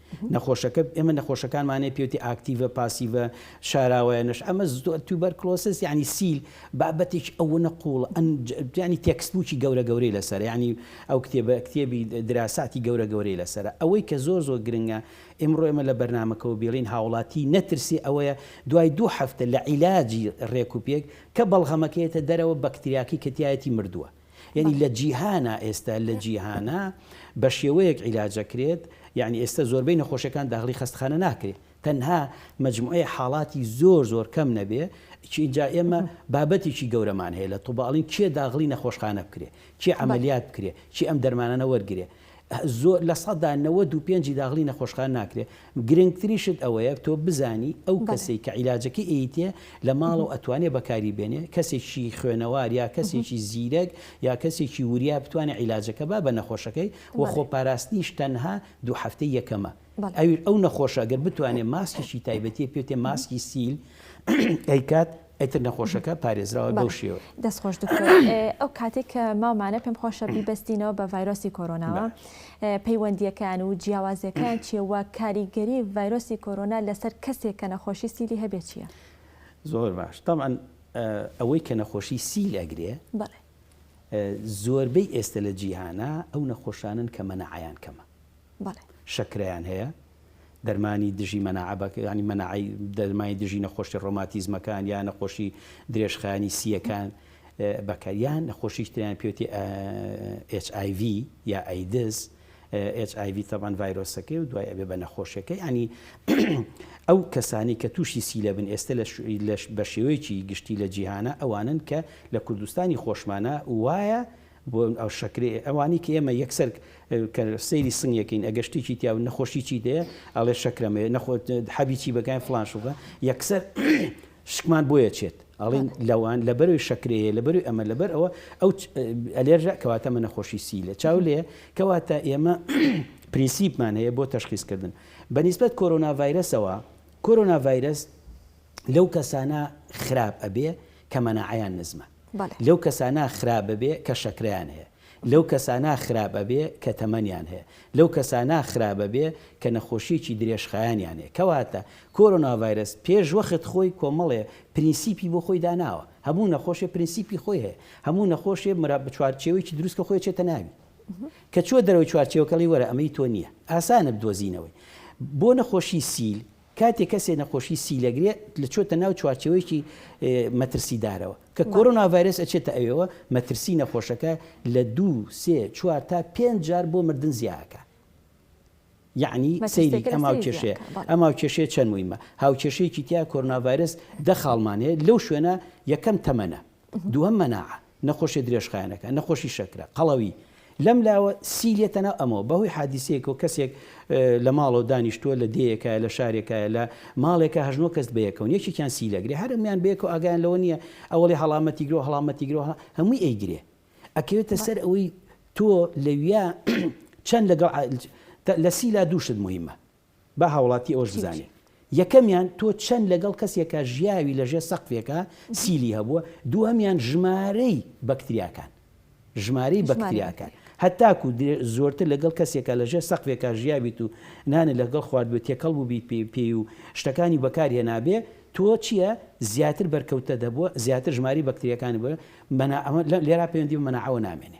نەخۆشەکە ئێمە نەخۆشەکانمانەیە پێوتی ئاکتیڤە پاسیڤە شاراوەیەنش ئەمە زۆر توبەر کلۆسس ینی سیل بابەتێک ئەوە نەقوڵ ئەنجانی تێکسبووکی گەورە گەورەی لەسەر ینی ئەو کتێبە کتێبی دراساتی گەورە گەورەی لەسەر ئەوەی کە زۆر زۆر گرنگە ئمڕۆ ئێمە لە بەرنمەکەەوە بێڵین هاوڵاتی نەترسی ئەوەیە دوای دوو هەفتە لە عیلاجی ڕێکوپێک کە بەڵغەمەکەێتە دەرەوە بەکتریاکی کەتیایەتی مردووە یەنی لە جیهانا ئێستا لە جیهانا بە شێوەیەک عیلاجەکرێت یعنی ئێستا زۆربەی نەخۆشەکان داغلی خەستخانە ناکرێت تەنها مجموعەیە حاڵاتی زۆر زۆر کەم نەبێ چینجا ئێمە بابەتێکی گەورەمان هەیە لە توباڵین کێ داغلی نەخۆشخانە بکرێ چی عملیات بکرێ چی ئەم دەرمانانە وەرگێ زۆر لە سەدا نەوەد و پێنج ی داغلی نەخۆشخانە ناکرێ گرنگترین شت ئەوەیە تۆ بزانی ئەو بەڵێ. کەسەی کە عیلاجەکەی ئەیتێ لە ماڵەوە ئەتوانێ بەکاری بێنێ کەسێکی خوێنەوار یا کەسێکی زیرەک یا کەسێکی وریا بتوانێ عیلاجەکە با بە نەخۆشەکەی و بەڵێ. خۆپاراستنیش تەنها دوو هەفتەی یەکەمە بەڵێ. ئەویش ئەو نەخۆشە گەر بتوانێ ماسکێکی تایبەتی پێ بتێ ماسکی سیل ئەیکات ئیتر نەخۆشەکە پارێزراوە بەو شێوەیە. دەست خۆش دکتۆر ئەو کاتێک کە ماومانە پێم خۆشە بیبەستینەوە بە ڤایرۆسی کۆرۆناوە پەیوەندیەکان و جیاوازەکان چیە و کاریگەری ڤایرۆسی کۆرۆنا لەسەر کەسێک کە نەخۆشی سیلی هەبێ چیە؟ زۆر باش تاان ئەوەی کە نەخۆشی سیل ئەگرێ زۆربەی ئێستە لە جیهانە ئەو نەخۆشانن کە مەنەعیان کەمە بەڵێ. شەکرەیان هەیە دەرمانی دژی مەناعە بە یانی مەناعەی دەرمای دژی نەخۆشی ڕۆماتیزمەکان یا نەخۆشی درێژخایەنی سییەکان بەکە یان نەخۆشیش تریان پێوتی HIV یا ئەیدز HIV تەبان ڤایرۆسەکەی و دوای ئەبێ بە نەخۆشیەکە ینی ئەو کەسانی کە تووشی سیلە بن ئێستا لەش بە شێوەیەکی گشتی لە جیهانە ئەوانن کە لە کوردستانی خۆشمانە وایە بۆ ئەو شەکرەی ئەوانی کە ئێمە یەکسەر کە سەیری سنگ یەکەین ئەگەر شتێکی تیاو نەخۆشی چی دەیە ئەڵێ شەکرەمێ نەخۆ حەبی چی بەگای فلان شوبە یەکسەر شکمان بۆیە چێت ئەڵین لەوان لەبەروی شەکرەیە لەبەروی ئەمە لەبەر ئەوە ئەو ئەلێرژە کەواتە منە خۆشی سی لە چاو لێ کەواتە ئێمە پرینسیپمان هەیە بۆ تەشخیزکردن بەنیسبەت کۆرۆنا ڤایرەسەوە کۆرۆنا ڤایرەس لەو کەسانە خراپ ئەبێ کە مەناعەیان نزمە بەڵێ. لەو کەسانە خراپ ئەبێ کە شەکرەیان هەیە لەو کەسانە خراپ ئەبێ کە تەمەنیان هەیە لەو کەسانە خراپ ئەبێ کە نەخۆشیەکی درێژخایەنیان هەیە کەواتە کۆرۆنا ڤایرەس پێش وەخت خۆی کۆمەڵێ پرینسیپی بۆ خۆی داناوە هەموو نەخۆشێ پرینسیپی خۆی هەیە هەموو نەخۆشێ مرا بە چوارچێوەیەکی دروستکە خۆی چێتە ناوی کە چوە دەرەوەی چوارچێوەکەڵی وەرە ئەمەی تۆ نییە ئاسانە بدۆزینەوەی بۆ نەخۆشی سیل کاتێک کەسێ نەخۆشی سیل ئەگرێ لە چۆتە ناو چوارچێوەیەکی مەترسیدارەوە کە کۆرۆنا ڤایرەس ئەچێتە ئەوێوە مەترسی نەخۆشەکە لە دوو سێ چوار تا پێنج جار بۆ مردن زیا ئەکا یەعنی سەیری ئەم هاوکێشەیە ئەم هاوکێشەیە چەند مویمە هاوکێشەیەکی تیا کۆرۆنا ڤایرەس دە خاڵمان هەیە لەو شوێنە یەکەم تەمەنە دووەم مەناع، نەخۆشیە درێژخایەنەکان، نەخۆشی شەکرە، قەڵەوی، لەم لاوە سیل یەتە ناو ئەمەوە بەهۆی حادیسەیەکەوە کەسێک لە ماڵەوە دانیشتووە لە دێیەکایە لە شارێکایە لە ماڵێکە هەشت نۆ کەس بەیەکەون یەکێکیان سیل ئەگرێ هەر هەموویان بەیەکەوە ئاگایان لەوە نییە ئەوەڵێ هەڵامەتی گرەوە هەڵامەتی گرەوە هەمووی ئەیگرێ ئەکەوێتە سەر ئەوەی تۆ لەویا چەند لەگەڵ لە سیلا دوو شت موهیمە با هاوڵاتی ئەوەش چی بزانێ چی؟ یەکەمیان تۆ چەند لەگەڵ کەسێکا ژیاوی لەژێر سەقفێکا سیلی هەبووە دووهەمیان ژمارەی بەکتریاکان ژمارەی ژمارەی بەکتریاکان بەکتریاکان. هەتاکو دێ زۆرتر لەگەڵ کەسێکا لەژێر سەقفێکا ژیاویت و نانت لەگەڵ خواردبێ تێکەڵ بووبیت پێ پێی و شتەکانی بەکار هێنابێ تۆ چیە زیاتر بەرکەوتنت هەبووە زیاتر ژمارەی بەکتریاکانت بووە مەناعەوە لێرا پەیوەندی بە مەناعەوە نامێنێ.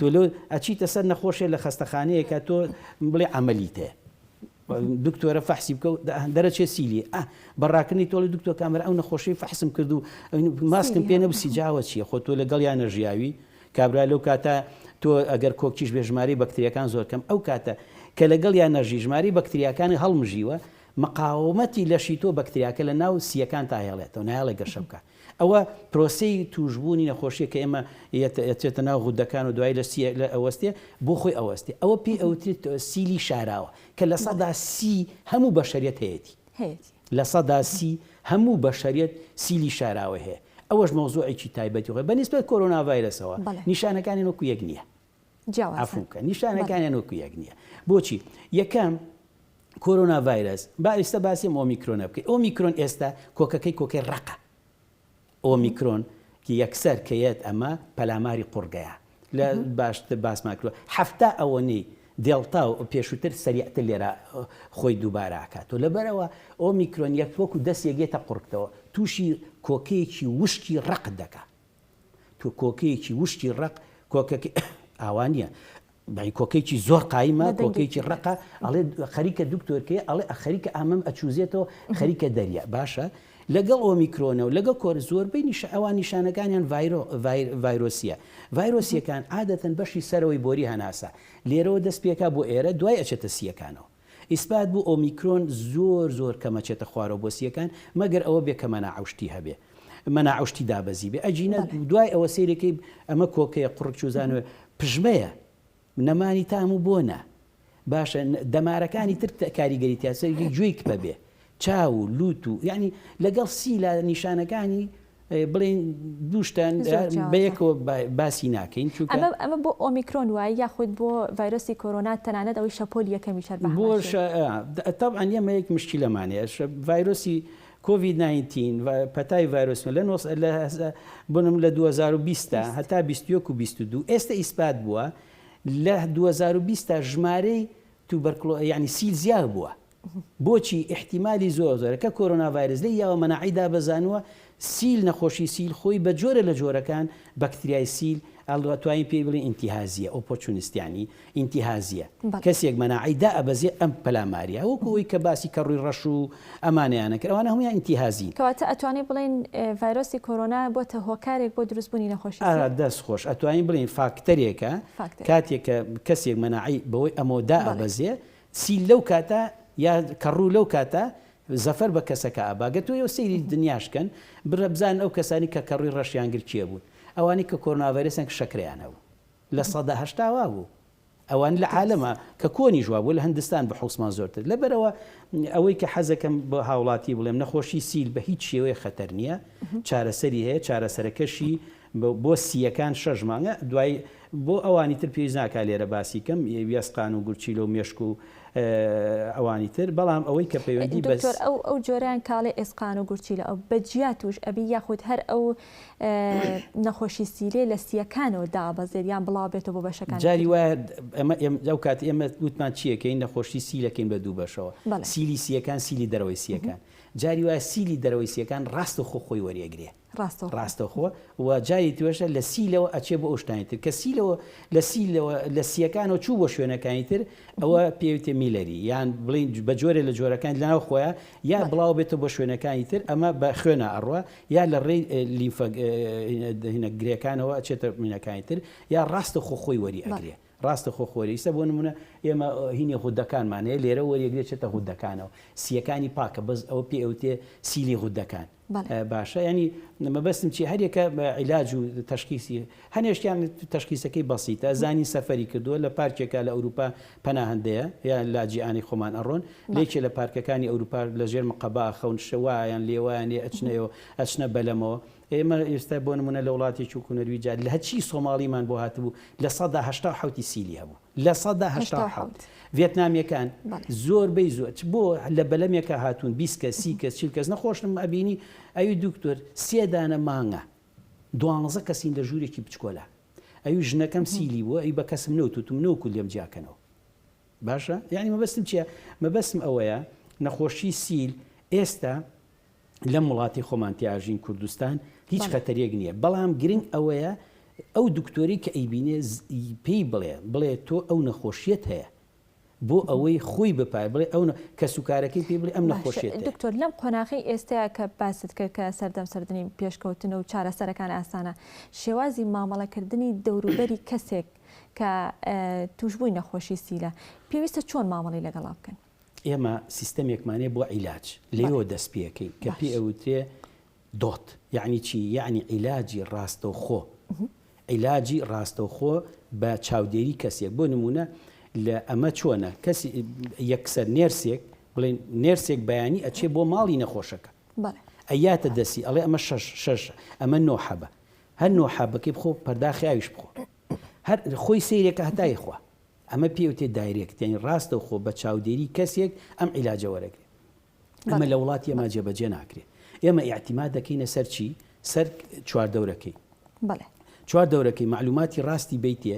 تۆ لۆ ئەچیتە سەر نەخۆشێ لە خەستەخانەیەکە تۆ بڵێ عەمەلیت هەیە دکتۆرە فەحسی بکە و دەرەچێ سیلی ئە بە ڕاکردنی تۆڵی دکتۆر کامەرە ئەو نەخۆشی فەحسم کرد و ماسکم پێ نەبسی جاوە چیە خۆ تۆ لەگەڵ یان نەژیاوی کابرا لەو کاتە تۆ ئەگەر کۆکیش بێ ژماری بەکتریەکان زۆر کەم ئەو کاتە کە لەگەڵ یان نەژی ژماری بەکتریاکانی هەڵمژیوە مقاومەتی لەشی تۆ بەکتریاکە لە ناو سیەکان تاهێڵێتەوە نایڵێ گەشە بکە ئەوە پرۆسەی تووشبوونی نەخۆشیە کە ئێمە ئەچێتە ناو غودەکان و دوایی لە سی لە ئەوەستێ بۆ خۆی ئەوەستێ ئەوە پێی ئەوترێت سیلی شاراوە کە لە سەدا سی هەموو بەشەریەت هەیەتی لە سەدا سی هەموو بەشەریەت سیلی شاراوە هەیە ئەوەش مەوزوعێکی تایبەتی خۆی بە نیسبەت کۆرۆنا ڤایرەسەوە نیشانەکانی وەکو یەک نییە جیاوازن نیشانەکانیان وەکو یەک نیە بۆچی یەکەم کۆرۆنا ڤایرس با ئێستا باسیم ئۆمیکرۆنە بکەی ئۆمیکرۆن ئێستا کۆکەکەی کۆکەی ڕقە ئۆمیکرۆن کی یەکسەر کەیەت ئەمە پەلاماری قوڕگەیە لە باشت باسمان کردوە هەفتا ئەوەنەی دێڵتا و پێشووتر سەریعتر لێرە خۆی دووباراکات و لەبەرەوە ئەو میکرۆنیەک وەکو دەست یەگێتە قڕکتەوە تووشی کۆکەیەکی وشکی ڕق دەکات تۆ کۆکەیەکی وشکی ڕەق کۆکەکەی ئاوا نییە بەی کۆکەیەکی زۆر قایمە بە دەنگێکی کۆکەیەکی بەرز. ڕقە ئەڵێ خەریکە دکتۆر کێ ئەڵێ ئە خەریکە ئامەم ئەچوزێتەوە خەریکە دەریا باشە لەگەڵ ئۆمیکرۆنە و لەگەڵ کۆر زۆربەی نیش ئەوان نیشانەکانیان ڤایرۆ ڤایر ڤایرۆسییە ڤایرۆسییەکان عادەتەن بەشی سەرەوەی بۆری هەناسە لێرەوە دەست پێکا بۆ ئێرە دوای ئەچێتە سییەکانەوە. ئیسبات بوو ئۆمیکرۆن زۆر زۆر کەمە چێتە خوارەوە بۆ سییەکان مەگەر ئەوە بێ کە مەناعە و شتی هەبێ مەناعە شتی دابەزی بێ ئەجینە دوای ئەوە سەیرەکەی ئەمە کۆکەیە قوڕک چوزانوێ پژمەیە نەمانی تام و بۆ نە باشە دەمارەکانی تر کاریگەری تاسەری گوێی کپە بێ چاو و لوت و یعنی لەگەڵ سیلا نیشانەکانی بڵێن دوو شتان بەیەکەوە باسی ناکەین چونکە ئەمە ئەمە بۆ ئۆمیکرۆن وایە یاخود بۆ ڤایرۆسی کۆرۆنا تەنانەت ئەوەی شەپۆلی یەکەمیش هەر بەهەمان بۆش شێوە. آه، د- طبعا ئێمە یەک مشکلەمانەیە ش- ڤایرۆسی کۆڤید 19 و پەتای ڤایرۆسمە لە نۆ سە- لە هەزا- بنم لە 2020 تا بیست. هەتا 21 و 22 ئێستە ئیسپات بووە لە 2020 تا ژمارەی توبەرکلۆ یانی سیل زیاد بووە بۆچی ئیحتیمالی زۆر زۆرە کە کۆرۆنا ڤایرس لێی یاوە مەناعەی دابەزانووە سیل نەخۆشی سیل خۆی بە جۆرە لە جۆرەکان بەکتریای سیل ئەلواتوانین پێی بڵێن ئینتیهازیە ئۆپۆرچونست یانی ئینتیهازیە کەسێک مەناعەی دا ئەبەزێ ئەم پەلاماریە وەکو ئەوی کە باسی کەڕووی ڕەش و ئەمانەیانە کرد ئەوانە هەموویان ئینتیهازین. کەواتە ئەتوانین بڵێین ڤایرۆسی کۆرۆنا بۆتە هۆکارێک بۆ دروست بوونی نەخۆشی سیل؟ ئەرا دەست خۆش ئەتوانین بڵێین فاکتەرێکە کاتێک کە کەسێک مەناعەی بەوەی ئەمەوە دا ئەبەزێ چی لەو کاتە یا کەڕوو لەو کاتە زەفەر بە کەسەکە ئابا گەر تۆ یەو سەیری دنیاش کەن برا بزانن ئەو کەسانی کە کەڕووی ڕەشیان گر کێ بوون ئەوانی کە کۆرناڤایرەسیان ک شەکرەیان هەبوو لە سەدا هەشتا وا بوو ئەوانی لە عالەما کە کۆنیش وا بوو لە هندستان بە حوسمان زۆرتر لە بەرەوە ئەوەی کە حەزەکەم بە هاوڵاتی بڵێم نەخۆشی سیل بە هیچ شێوەیە خەتەر نیە چارەسەری هەیە چارەسەرەکەشی بۆ سییەکان شەش مانگە دوای بۆ ئەوانی تر پێویست ناکات لێرە باسی کەم وێستقان و گورچیلە و مێشک و ئەوانی تر بەڵام ئەوەی کە پەیوەندی بە دکتۆر ئەو ئەو جۆرەیان کاڵێ ئێسقان و گورچیلە ئەو بە جیا توش ئەبی یاخود هەر ئەو نەخۆشی سیلێ لە سییەکانەوە دابەزێت یان بڵاو بێتەوە بۆ بەشەکانی تر جاری وایە ئەمە ئێمە ئەو کات ئێمە وتمان چی ئەکەین نەخۆشی سیل ئەکەین بە دوو بەشەوە بەڵێ سیلی سییەکان سیلی دەرەوەی سییەکان جاری وایە سیلی دەرەوەی سییەکان ڕاستەوخۆ خۆی وەریەگرێ ڕاستەوخۆ. ڕاستەوخۆ و جاری ترەشە لە سی لەوە ئەچێ بۆ ئەو شتانی تر کە سی لەوە لە سی لەوە لە سیەکانەوە چوو بۆ شوێنەکانی تر ئەوە پێوتێ میلەری یان بڵین بە جۆرێ لە جۆرەکانی لەناو خۆیان یا بڵاو بێتە بۆ شوێنەکانی تر ئەمە بە خوێنە ئەڕوا یا لە ڕێی لیمفە هینە گرێکانەوە ئەچێتە مینەکانی تر یا ڕاستە خۆ خۆی وەری ئەگرێ ڕاستە خۆ خۆری ئیستا بۆ نمونە ئێمە هینی غودەکانمانەیە لێرە وەریەگرێ چێتە غودەکانەوە سیەکانی پاکە بەس ئەوە پێ ئەوتێ سیلی غودەکان باشە یانی مەبەستم چی هەریەکە عیلاج و تەشخیسی هەنێشتیان تەشخیسەکەی بەسیتە زانی سەفەری کردووە لە پارکێکە لە ئەوروپا پەناهندەیە یا لاجییانی خۆمان ئەڕۆن لێکێ لە پارکەکانی ئەوروپا لە ژێر مقەبا خەون شەوایان لێوایانێ ئەچنەوە ئەچنە بەلەمەوە ئێمە ئێستا بۆ نمونە لە وڵاتێکی کوونەرویجار لە هەچی سۆماڵیمان بۆ هاتبوو لە سەدا هەشتا حوتی سیلی هەبوو لە سەدا هەشتا و حەوت ڤێتنامیەکان زۆر بەی زۆر چ بۆ لە بەلەمێکە هاتوون بیست کەس سی کەس چل کەس نەخۆشم ئەبینی ئەوی دوکتۆر سێ دانە مانگە دوانزە کەسین لە ژوورێکی بچکۆلا ئەوی ژنەکەم سیلی بووە ئەی بە کەسم نەوتوتم نەوکو لێم جیاکەنەوە باشە یعنی مەبەستم چییە مەبەستم ئەوەیە نەخۆشی سیل ئێستا لەم وڵاتی خۆمان تیاژین کوردستان هیچ خەتەرێک نیە بەڵام گرنگ ئەوەیە ئەو دکتۆری کە ئەیبینێ پێی بڵێ بڵێ تۆ ئەو نەخۆشیت هەیە بۆ ئەوەی خۆی بپای بڵێ ئەو کەسوکارەکەی پێ بڵێ ئەم نەخۆشێت دکتۆر لەم قۆناغی ئێستایا کە باست کرد کە سەردەم سەردنی پێشکەوتنە و چارەسەرەکان ئاسانە شێوازی مامەڵەکردنی دەوروبەری کەسێک کە توشبووی نەخۆشی سیلە پێویستە چۆن مامەڵی لەگەڵا بکەن؟ ئێمە سیستەمێکمان هەیە بۆ عیلاج، لێیەوە دەست پێکەین کە پێی ئەوترێ دۆت، یعنی چی؟ یعنی عیلاجی ڕاستەوخۆ، عیلاجی ڕاستەوخۆ بە چاودێری کەسێک، بۆ نموونە لە ئەمە چۆنە کەسی یەکسەر نێرسێک بڵێن نێرسێک بەیانی ئەچێ بۆ ماڵی نەخۆشەکە ئەیاتە دەسی ئەڵێ ئەمە شەش شەش ئەمە نۆ حەبە هەر نۆ حەبەکەی بخۆ پەرداخیاویش بخۆ هەر خۆی سیرێکە هەتای خوا ئەمە پێی ئەوترێت دایرێکت یانی ڕاستەوخۆ بە چاودێری کەسێک ئەم عیلاجە وەرەگرێت ئەمە لە وڵاتی ئەما جێبەجێ ناکرێت ئێمە ئیعتیماد دەکەینە سەر چی سەر چوار دەورەکەی چوار دەورەکەی معلوماتی ڕاستی بیتێ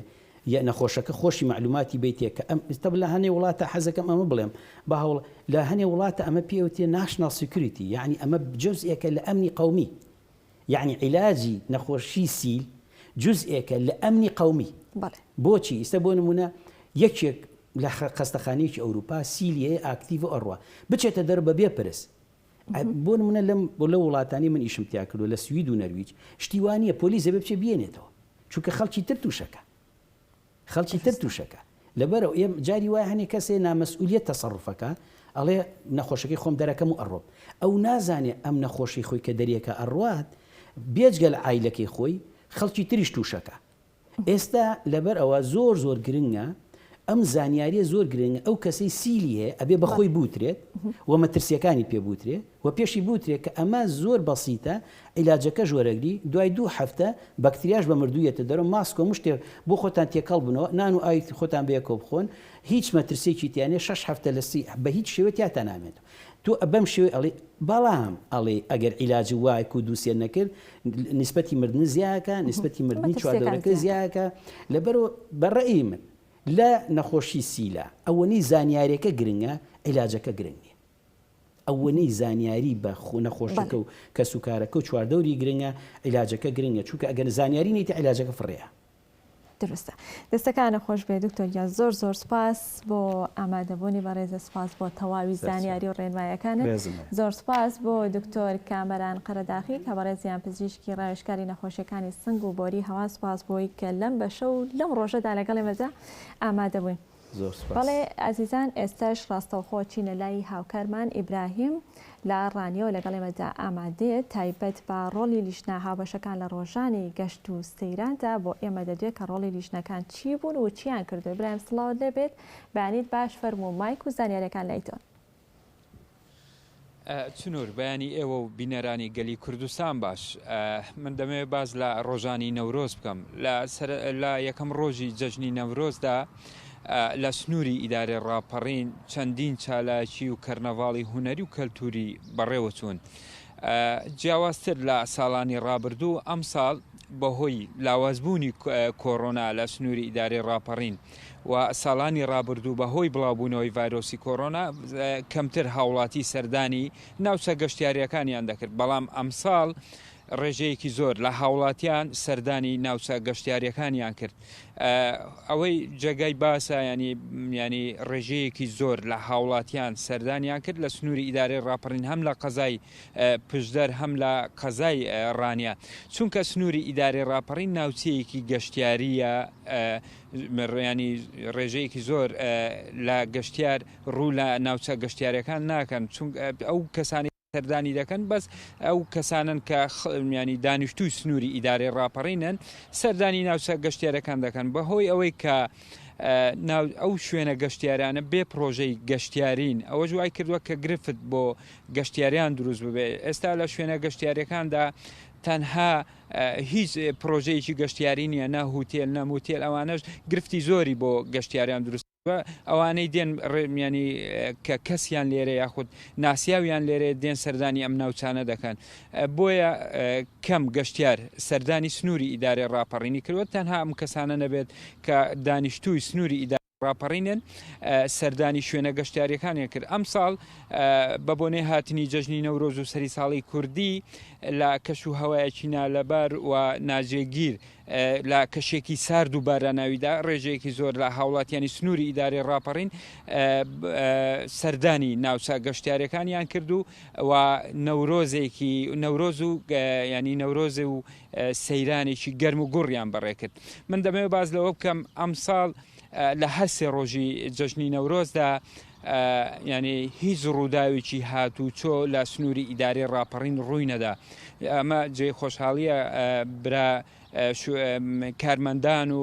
یە نەخۆشەکە خۆشی معلوماتی بیتێ کە ئەم ئستا لە هەنێ وڵاتە حەزەکەم ئەمە بڵێم بە هەوڵ لە هەنێ وڵاتە ئەمە پێوتێ ناشناڵ سیکریتی یعنی ئەمە جزئێکە لە ئەمنی قومی یەعنی عیلاجی نەخۆشی سیل جوزئێکە لە ئەمنی قەومی بەڵێ بۆچی ئیستە بۆ نمونە یەکێک لە خەستەخانەیەکی ئەوروپا سیلی هەیە ئاکتیڤ ئەڕوا بچێتە دەر بە بێ پرس بۆ نمونە لەم بۆ لە وڵاتانی من ئیشم تیا کردو لە سوید و نەرویج شتیوانە پۆلیس دەبێ بچێ بێنێتەوە چونکە خەڵکی تر تووشەکە خەڵکی تر توشەکە لەبەرئ ئێم جاری وایە هەنێ کەسێ نامەسئولیە تەسەڕوفەکا ئەڵێ نەخۆشەکەی خۆم دەرەکەم و ئەڕۆم ئەو نازانێ ئەم نەخۆشی خۆی کە دەریەکە ئەڕوات بێجگەل عایلەکەی خۆی خەڵکی تریش توشەکا ئێستا لەبەر ئەوە زۆر زۆر گرنگە ئەم زانیاریە زۆر گرنگە ئەو کەسەی سیلی هەیە ئەبێ بەخۆی بوترێت و مەترسیەکانی پێ بوترێ وە پێشی بوترێ کە ئەمە زۆر بەسیتە عیلاجەکەش وەرەگری دوای دوو هەفتە بەکتریاش بە مردوو یەتە دەرەوە ماسک و مشتێ بۆ خۆتان تێکەڵ بنەوە نان و ئاوی خۆتان بەیەکەوە بخۆن هیچ مەترسیەکی تیا نیە شەش هەفتە لە سی بە هیچ شێوە تیاتان نامێنێتەوە تۆ بەم شێوەی ئەڵێی بەڵام ئەڵێی ئەگەر عیلاج وایەک و دوو سێ نەکرد نیسبەتی مردن زیاکە نیسبەتی مردنی چواردەورەکە زیاکە لەبەرو بە ڕەئی من لە نەخۆشی سیلا ئەوەنەی زانیارەکە گرنگە عیلاجەکە گرنگ نیە. ئەوەنەی زانیاری بە نەخۆشەکە و کەس و کارەکە و چواردەوری گرنگە عیلاجەکە گرنگە چونکە ئەگەر زانیاری نیت عیلاجەکە فڕێیە. دروستە دەستەکانت خۆش بێت دکتۆر گیان زۆر زۆر سوپاس بۆ ئامادەبوونی بەڕێزت سوپاس بۆ تەواوی زانیاری و ڕێنمایەکانت زۆر سوپاس بۆ دکتۆر کامەران قەرەداخی کە بەڕێزیان پزیشکی ڕاوێژکاری نەخۆشیەکانی سنگ و بۆری هەوا سوپاس بۆی کە لەم بەشە و لەم ڕۆژەدا لەگەڵ ئێمەدا ئامادەبووی. زۆر سوپاس. بەڵێ ئازیزان ئێستەش ڕاستەوخۆ چینە لای هاوکارمان ئیبراهیم لە ڕانیەوە لەگەڵ ئێمەدا ئامادەیە تایبەت بە ڕۆڵی لیژنە هاوبەشەکان لە ڕۆژانی گەشت و سەیراندا بۆ ئێمە دەدوێ کە ڕۆڵی لیژنەکان چی بوون و چیان کردووە ئیبراهیم سڵاوت لێبێت بەیانیت باش فەرموو مایک و زانیاریەکان لای تۆن. چنور، بەیانی ئێوە و بینەرانی گەلی کوردستان باش. من دەمەوێت باس لە ڕۆژانی نەورۆز بکەم. لە یەکەم ڕۆژی جەژنی نەورۆزدا لە سنووری ئیدارەی ڕاپەڕین چەندین چالاکی و کەرنەڤاڵی هونەری و کەلتوری بەڕێوەچوون. جیاوازتر لە ساڵانی ڕابردوو، ئەمساڵ بەهۆی لاوازبوونی کۆرۆنا لە سنووری ئیدارەی ڕاپەڕین، و ساڵانی ڕابردوو بەهۆی بڵاوبوونەوەی ڤایرۆسی کۆرۆنا کەمتر هاوڵاتی سەردانی ناوچە گەشتیارییەکانیان دەکرد، بەڵام ئەمساڵ ڕێژەیەکی زۆر لە هاوڵاتیان سەردانی ناوچە گەشتیاریەکانیان کرد ئەوەی جێگای باسە ینی ینی ڕێژەیەکی زۆر لە هاوڵاتیان سەردانیان کرد لە سنووری ئیدارەی ڕاپەڕین هەم لە قەزای پشدەر هەم لە قەزای ڕانیە چونکە سنووری ئیدارەی ڕاپەڕین ناوچەیەکی گەشتیاریە ڕیانی ڕێژەیەکی زۆر لە گەشتیار ڕوو لە ناوچە گەشتیارەکان ناکەن چون ئەو کەسانی سەردانی دەکەن بەس ئەو کەسانن کە خمیانی دانیشتوی سنووری ئیدارەی ڕاپەڕینن سەردانی ناوچە گەشتێرەکان دەکەن بەهۆی ئەوەی کە ئەو شوێنە گەشتیارانە بێ پرۆژەی گەشتیارین ئەوە جوای کردووە کە گرفت بۆ گەشتیاریان دروست ببێت ئێستا لە شوێنە گەشتیاریەکاندا تەنها هیچ پرۆژەیەکی گەشتیاری نییە نە هوتێل نە موتێل ئەوانش گرفتی زۆری بۆ گەشتیاریان دروست ئەوانەی دێن ڕێمیانی کە کەسیان لێرە یاخود ناسیاویان لێرە دێن سەردانی ئەم ناوچانە دەکەن بۆیە کەم گەشتیار سەردانی سنووری ئیدارەی ڕاپەڕینی کردوە تەنها ئەم کەسانە نەبێت کە دانیشتووی سنووری ئیدار ڕاپەڕینن سەردانی شوێنە گەشتیاریەکانیان کرد ئەمساڵ بە بۆنەی هاتنی جەژنی نەورۆز و سەری ساڵی کوردی لە کەش و هەوایەکی نالەبار و ناجێگیر لە کەشێکی سارد و باراناویدا ڕێژەیەکی زۆر لە هاوڵاتیانی سنووری ئیدارەی ڕاپەڕین سەردانی ناوچە گەشتارەکانیان کرد و و نەورۆزێکی نەورۆز و ینی نەورۆزێ و سەیرانێکی گەرم و گوڕیان بەڕێ کرد. من دەمەوێت باس لەوە بکەم ئەمساڵ لە هەر سێ ڕۆژی جەژنی نەورۆزدا ینی هیچ ڕووداوێکی هات و چۆ لە سنووری ئیدارەی ڕاپەڕین ڕووی نەدا ئەمە جێ خۆشحاڵیە برا کارمەندان و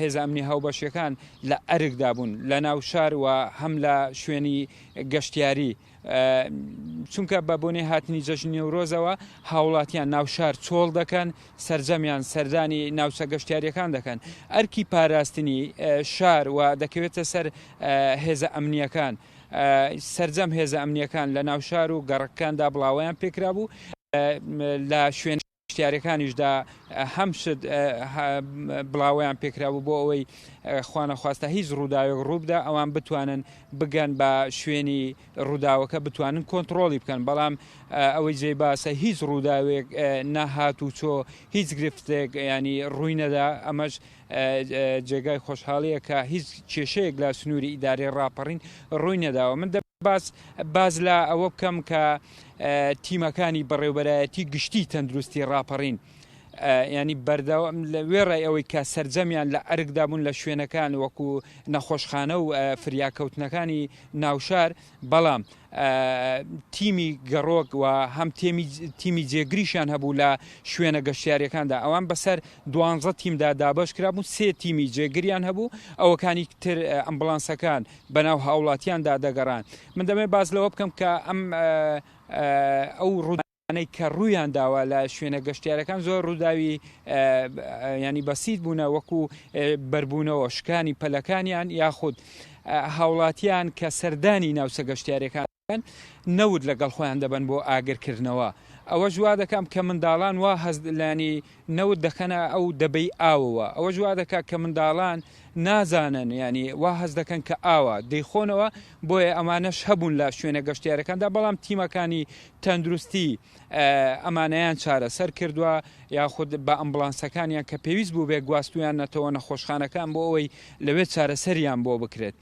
هێزە ئەمنی هاوبەشیەکان لە ئەرکدا بوون لە ناو شار و هەم لە شوێنی گەشتیاری چونکە بە بۆنی هاتنی جەژن نێورۆزەوە هاوڵاتیان ناو شار چۆڵ دەکەن سرجەمیان سەردانی ناوچە گەشتیاریەکان دەکەن ئەرکی پاراستنی شار و دەکەوێتە سەر هێزە ئەمنیەکان سرجەم هێزە ئەمنیەکان لە ناو شار و گەڕکاندا بڵاویان پێکرا بوو لە شوێن شتیارەکانیشدا هەم شت بڵاوەیان پێکرابوو بۆ ئەوەی خوانەخواستا هیچ ڕووداوێک ڕووبدا ئەوان بتوانن بگەن بە شوێنی ڕووداوەکە بتوانن کۆنتترۆڵی بکەن بەڵام ئەوەی جێ باسە هیچ ڕووداوێک نەهات و چۆ هیچ گرفتێک ینی ڕووی نەدا ئەمەش جێگای خۆشحاڵیە کە هیچ کێشەیەک لە سنووری ئیدارەی ڕاپەڕین ڕووی نەداوە من دە باز باز لە ئەوە بکەم کە تیمەکانی بەڕێوبەرایەتی گشتی تەندروستی ڕاپەڕین ینی بەردەوام لە وێڕای ئەوەی کە سرجەمیان لە ئەرکدابوون لە شوێنەکان وەکو نەخۆشخانە و فریاکەوتنەکانی ناوشار بەڵام تیمی گەڕۆک و هەم تیمی جێگریشان هەبوو لە شوێنە گەشتیارەکاندا ئەوان بەسەر دوانزە تیمدا دابش کرابوو سێ تیمی جێگریان هەبوو ئەوەکانی تر ئەمبلانسەکان بەناو هاوڵاتیاندا دەگەڕان. من دەمەوێت باس لەوە بکەم کە ئەم ئەو ڕوودانەی کە ڕوویان داوە لە شوێنە گەشتیارەکان زۆر ڕووداوی ینی بەسیت بوونە وەکو بەربوونەوە شکانی پەلەکانیان یاخود هاوڵاتیان کە سەردانی ناوچە گەشتیارەکان نەوت لەگەڵ خۆیان دەبەن بۆ ئاگرکردنەوە، ئەوەش وا دەکام کە منداڵان وا هەست لانی نەوت دەکەنە ئەو دەبەی ئاوەوە، ئەوەش وا دەکات کە منداڵان نازانن یانی وا هەست دەکەن کە ئاوە دەیخۆنەوە، بۆیە ئەمانەش هەبوون لە شوێنە گەشتیارەکاندا، بەڵام تیمەکانی تەندروستی ئەمانەیان چارەسەر کردووە یاخود بە ئەمبڵانسەکانیان کە پێویست بووبێت گواستویانەتەوە نەخۆشخانەکان بۆ ئەوەی لەوێ چارەسەریان بۆ بکرێت.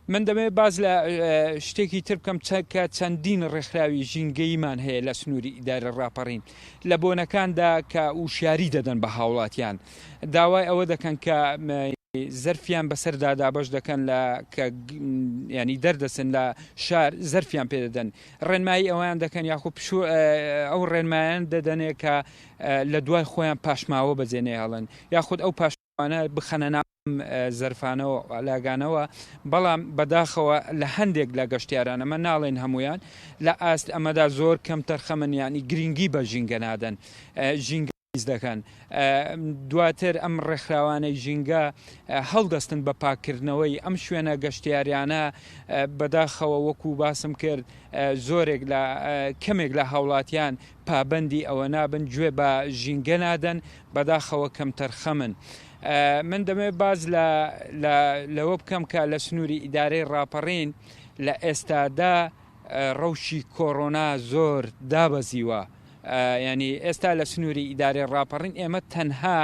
من دەمەوێت باس لە شتێکی تر بکەم چەکە چەندین ڕێکخراوی ژینگەیمان هەیە لە سنووری ئیدارە ڕاپەڕین لە بۆنەکاندا کە وشیاری دەدەن بە هاوڵاتیان داوای ئەوە دەکەن کە زەرفیان بەسەردا دابش دەکەن لە کە ینی دەردەسن لە شار زەرفیان پێدەدەن ڕێنمایی ئەویان دەکەن یاخو پشو ئەو ڕێنمایان دەدەنێ کە لە دوای خۆیان پاشماوە بەجێنێ هەڵن یاخود ئەو پاش وانە بخەنە ناو ئەم زەرفانە و لاگانەوە بەڵام بەداخەوە لە هەندێک لە گەشتیاران ئەمە ناڵێن هەمویان لە ئاست ئەمەدا زۆر کەم تەرخەمن یانی گرنگی بە ژینگە نادەن ژینگە پیس دەکەن دواتر ئەم ڕێکخراوانەی ژینگە هەڵدەستن بە پاککردنەوەی ئەم شوێنە گەشتیاریانە بەداخەوە وەکو باسم کرد زۆرێک لە کەمێک لە هاوڵاتیان پابەندی ئەوە نابن گوێ بە ژینگە نادەن بەداخەوە کەمتەرخەمن من دەمێ باز لە لەوە بکەم کە لە سنووری ئیدارەی ڕاپەڕین لە ئێستادا ڕەوشی کۆرۆنا زۆر دابەزیوە ینی ئێستا لە سنووری ئیدارەی ڕاپەڕین ئێمە تەنها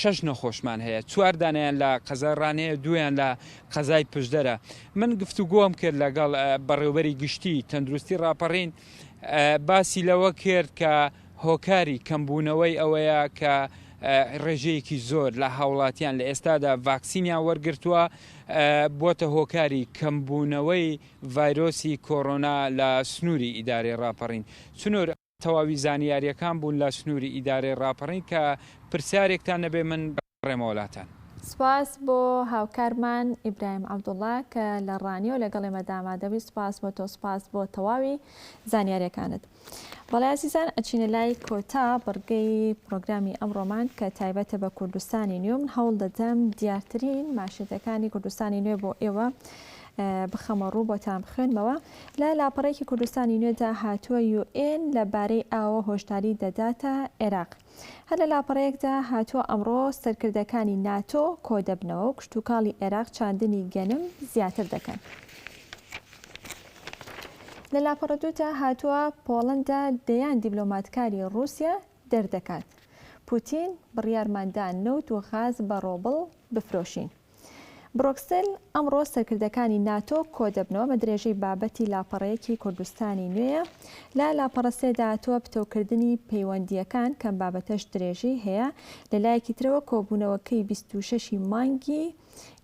شەش نەخۆشمان هەیە چوار دانیان لە قەزای ڕانەیە دویان لە قەزای پشدەرە من گفتوگۆم کرد لەگەڵ بەڕێوبەری گشتی تەندروستی ڕاپەڕین باسی لەوە کرد کە هۆکاری کەمبوونەوەی ئەوەیە کە ڕێژەیەکی زۆر لە هاوڵاتیان لە ئێستادا ڤاکسینیان وەرگتووە بۆتە هۆکاری کەمبوونەوەی ڤایرۆسی کۆرۆنا لە سنووری ئیدارەی ڕاپەڕین چنور تەواوی زانیاریەکان بوون لە سنوری ئیدارەی ڕاپەڕین کە پرسیارێکتان نەبێ من بگەڕێمەوە لاتان. سپاس بۆ هاوکارمان ئیبراهیم عەبدوڵا کە لە ڕانیە و لەگەڵ ئێمە دامادەبی سپاس بۆ تۆ سپاس بۆ تەواوی زانیاریەکانت بەڵێ ئازیزان ئەچینە لای کۆتا بڕگەی پڕۆگرامی ئەمڕۆمان کە تایبەتە بە کوردستانی نوێ من هەوڵ دەدەم دیارترین ماشێتەکانی کوردستانی نوێ بۆ ئێوە بخەمە ڕوو بۆتان بخوێنمەوە لە لاپەڕەیەکی کوردستانی نوێدا هاتووە یو ئێن لە بارەی ئاوە هۆشداری دەداتە عێراق. هەر لە لاپەڕەیەکدا هاتووە ئەمڕۆ سەرکردەکانی ناتۆ کۆدەبنەوە و کشتوکاڵی عێراق چاندنی گەنم زیاتر دەکەن. لە لاپەڕە دوودا هاتووە پۆڵەندا دەیان دیبلۆماتکاری ڕووسیا دەردەکات. پوتین بڕیارماندا نەوت و غاز بە ڕۆبڵ بفرۆشین. برۆکسل، ئەمڕۆ سەرکردەکانی ناتۆ کۆدەبنەوە بە درێژەی بابەتی لاپەڕەیەکی کوردستانی نوێ. لە لاپەڕە سێ داهاتووە پتەوکردنی پەیوەندییەکان، کەم بابەتەش درێژەی هەیە. لە لایەکی ترەوە کۆبوونەوەکەی بیست و شەش ی مانگی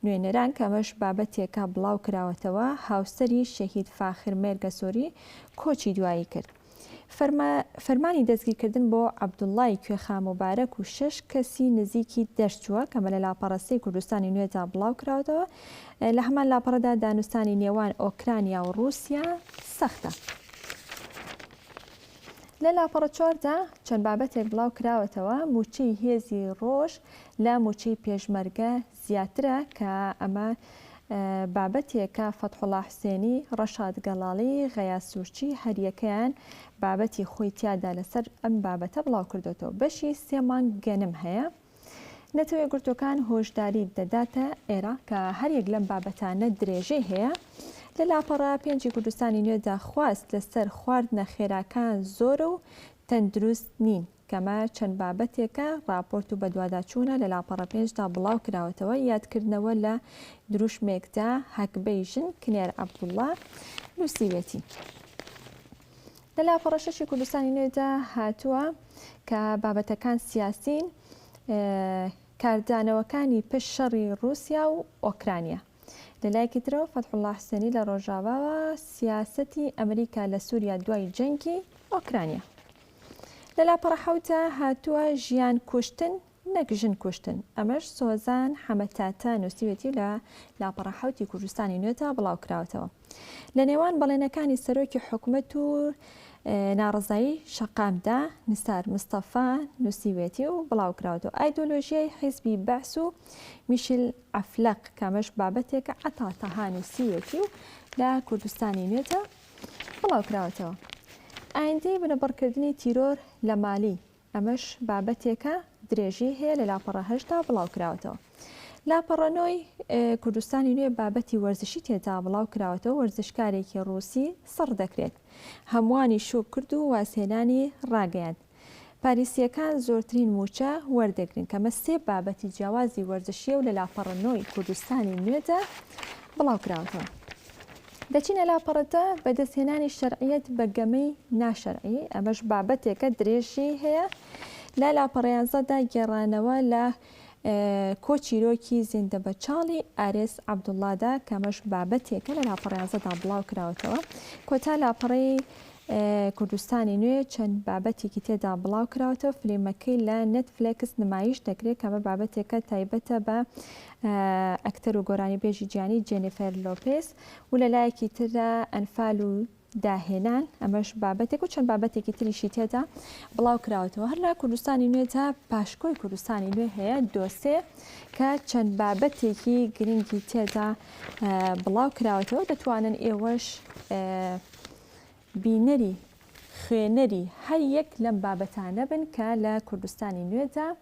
نوێنەران کە ئەمەش بابەتێکە بڵاوکراوەتەوە، هاوسەری شەهید فاخر مێرگەسۆری کۆچی دوایی کرد. فەرمانی دەستگیرکردن بۆ عەبدوڵڵای کوێخا موبارەک و شەش کەسی نزیکی دەرچووە، کە مەلە لاپەڕە سێی کوردستانی نوێدا بڵاوکراوەتەوە، لە هەمان لاپەڕەدا دانوستانی نێوان ئۆکرانیا و ڕووسیا سەختە. لە لاپەڕە چواردا چەند بابەتێک بڵاوکراوەتەوە، مووچەی هێزی ڕۆژ لە مووچەی پێشمەرگە زیاترە کە ئەمە بابەتێکە فەتحوڵا حوسێنی، ڕەشاد گەڵاڵی، غەیاس سوورچی هەریەکەیان بابەتی خۆی تیادا لەسەر ئەم بابەتە بڵاوکردۆتەوە. بەشی سێ مانگ گەنم هەیە نەتەوە یەکگرتووەکان هۆشداریت دەداتە ئێرە کە هەریەک لەم بابەتانە درێژەی هەیە. لە لاپەڕە پێنجی کوردستانی نوێدا خواست لەسەر خواردنە خێراکان زۆرە و تەندروست نین. کەمە چەند بابەتێکە ڕاپۆرت و بەدواداچوونە لە لاپەڕە پێنج دا بڵاو کراوەتەوە یادکردنەوە لە دروشمێکدا هەگبەی ژن کنێر عەبدوڵا نووسیوێتی لە لاپەڕە شەشی کوردستانی نوێدا هاتووە کە بابەتەکان سیاسین کاردانەوەکانی پشت شەڕی ڕووسیا و ئۆکرانیا لە لایەکی ترەوە فەتحوڵا حسێنی لە ڕۆژاڤاوە سیاسەتی ئەمریکا لە سووریا دوای جەنگی ئۆکرانیا لە لاپەڕە حەوتا هاتووە ژیان کوشتن نەک ژن کوشتن ئەمەش سۆزان حەمەتاتە نووسیوێتی لە لاپەڕە حەوتی کوردستانی نوێتا بڵاو کراوەتەوە لە نێوان بەڵێنەکانی سەرۆکی حکومەت و ناڕزایی شەقامدا نسار مستەفا نووسیوێتی و بڵاو کراوەتەوە ئایدۆلۆژیای حیزبی بەعس و میشل عەفلەق کە ئەمەش بابەتێکە عەتا تەها نووسیویەتی و لە کوردستانی نوێدا بڵاوکراوەتەوە. ئایندەی بنەبڕکردنی تیرۆر لە مالی، ئەمەش بابەتێکە درێژیی هەیە لە لاپەڕە هەشتدا بڵاوکراوەتەوە. لاپەڕە نۆی کوردستانی نوێ بابەتی وەرزشی تێدا بڵاوکراوەتەوە، وەرزشکارێکی ڕووسی سڕ دەکرێت، هەمووانی شۆک کرد و وازهێنانی ڕاگەیاند. پاریسییەکان زۆرترین مووچە وەردەگرن، کە مە سێ بابەتی جیاوازی وەرزشییە و لە لاپەڕە نۆ ی کوردستانی نوێدا بڵاوکراونەتەوە. دەچینە لاپەڕە دە، بەدەستهێنانی شەرعییەت بە گەمەی ناشەرعی، ئەمەش بابەتێکە درێژی هەیە لە لاپەڕە یانزە دا، گێڕانەوە لە کۆ چیرۆکی زیندە بە چاڵی ئارێز عەبدوڵڵادا کەمەش بابەتێکە لە لاپەڕە یازدەدا بڵاو کراوەتەوە کۆتا لاپەڕەی کوردستانی نوێ چەند بابەتێکی تێدا بڵاو کراوەتەوە فلیمەکەی لە نەتفلێکس نمایش دەکرێت کەمە بابەتێکە تایبەتە بە ئەکتەر و گۆرانیبێژی جیانی جێنیفەر لۆپێس و لە لایەکی تردا ئەنفال و داهێنان، ئەمەش بابەتێک و چەند بابەتێکی تریشی تێدا بڵاو کراوەتەوە هەر لە کوردستانی نوێدا پاشکۆی کوردستانی نوێ هەیە دۆسێ کە چەند بابەتێکی گرنگی تێدا بڵاو کراوەتەوە دەتوانن ئێوەش بینەری خوێنەری هەر یەک لەم بابەتانە بن کە لە کوردستانی نوێدا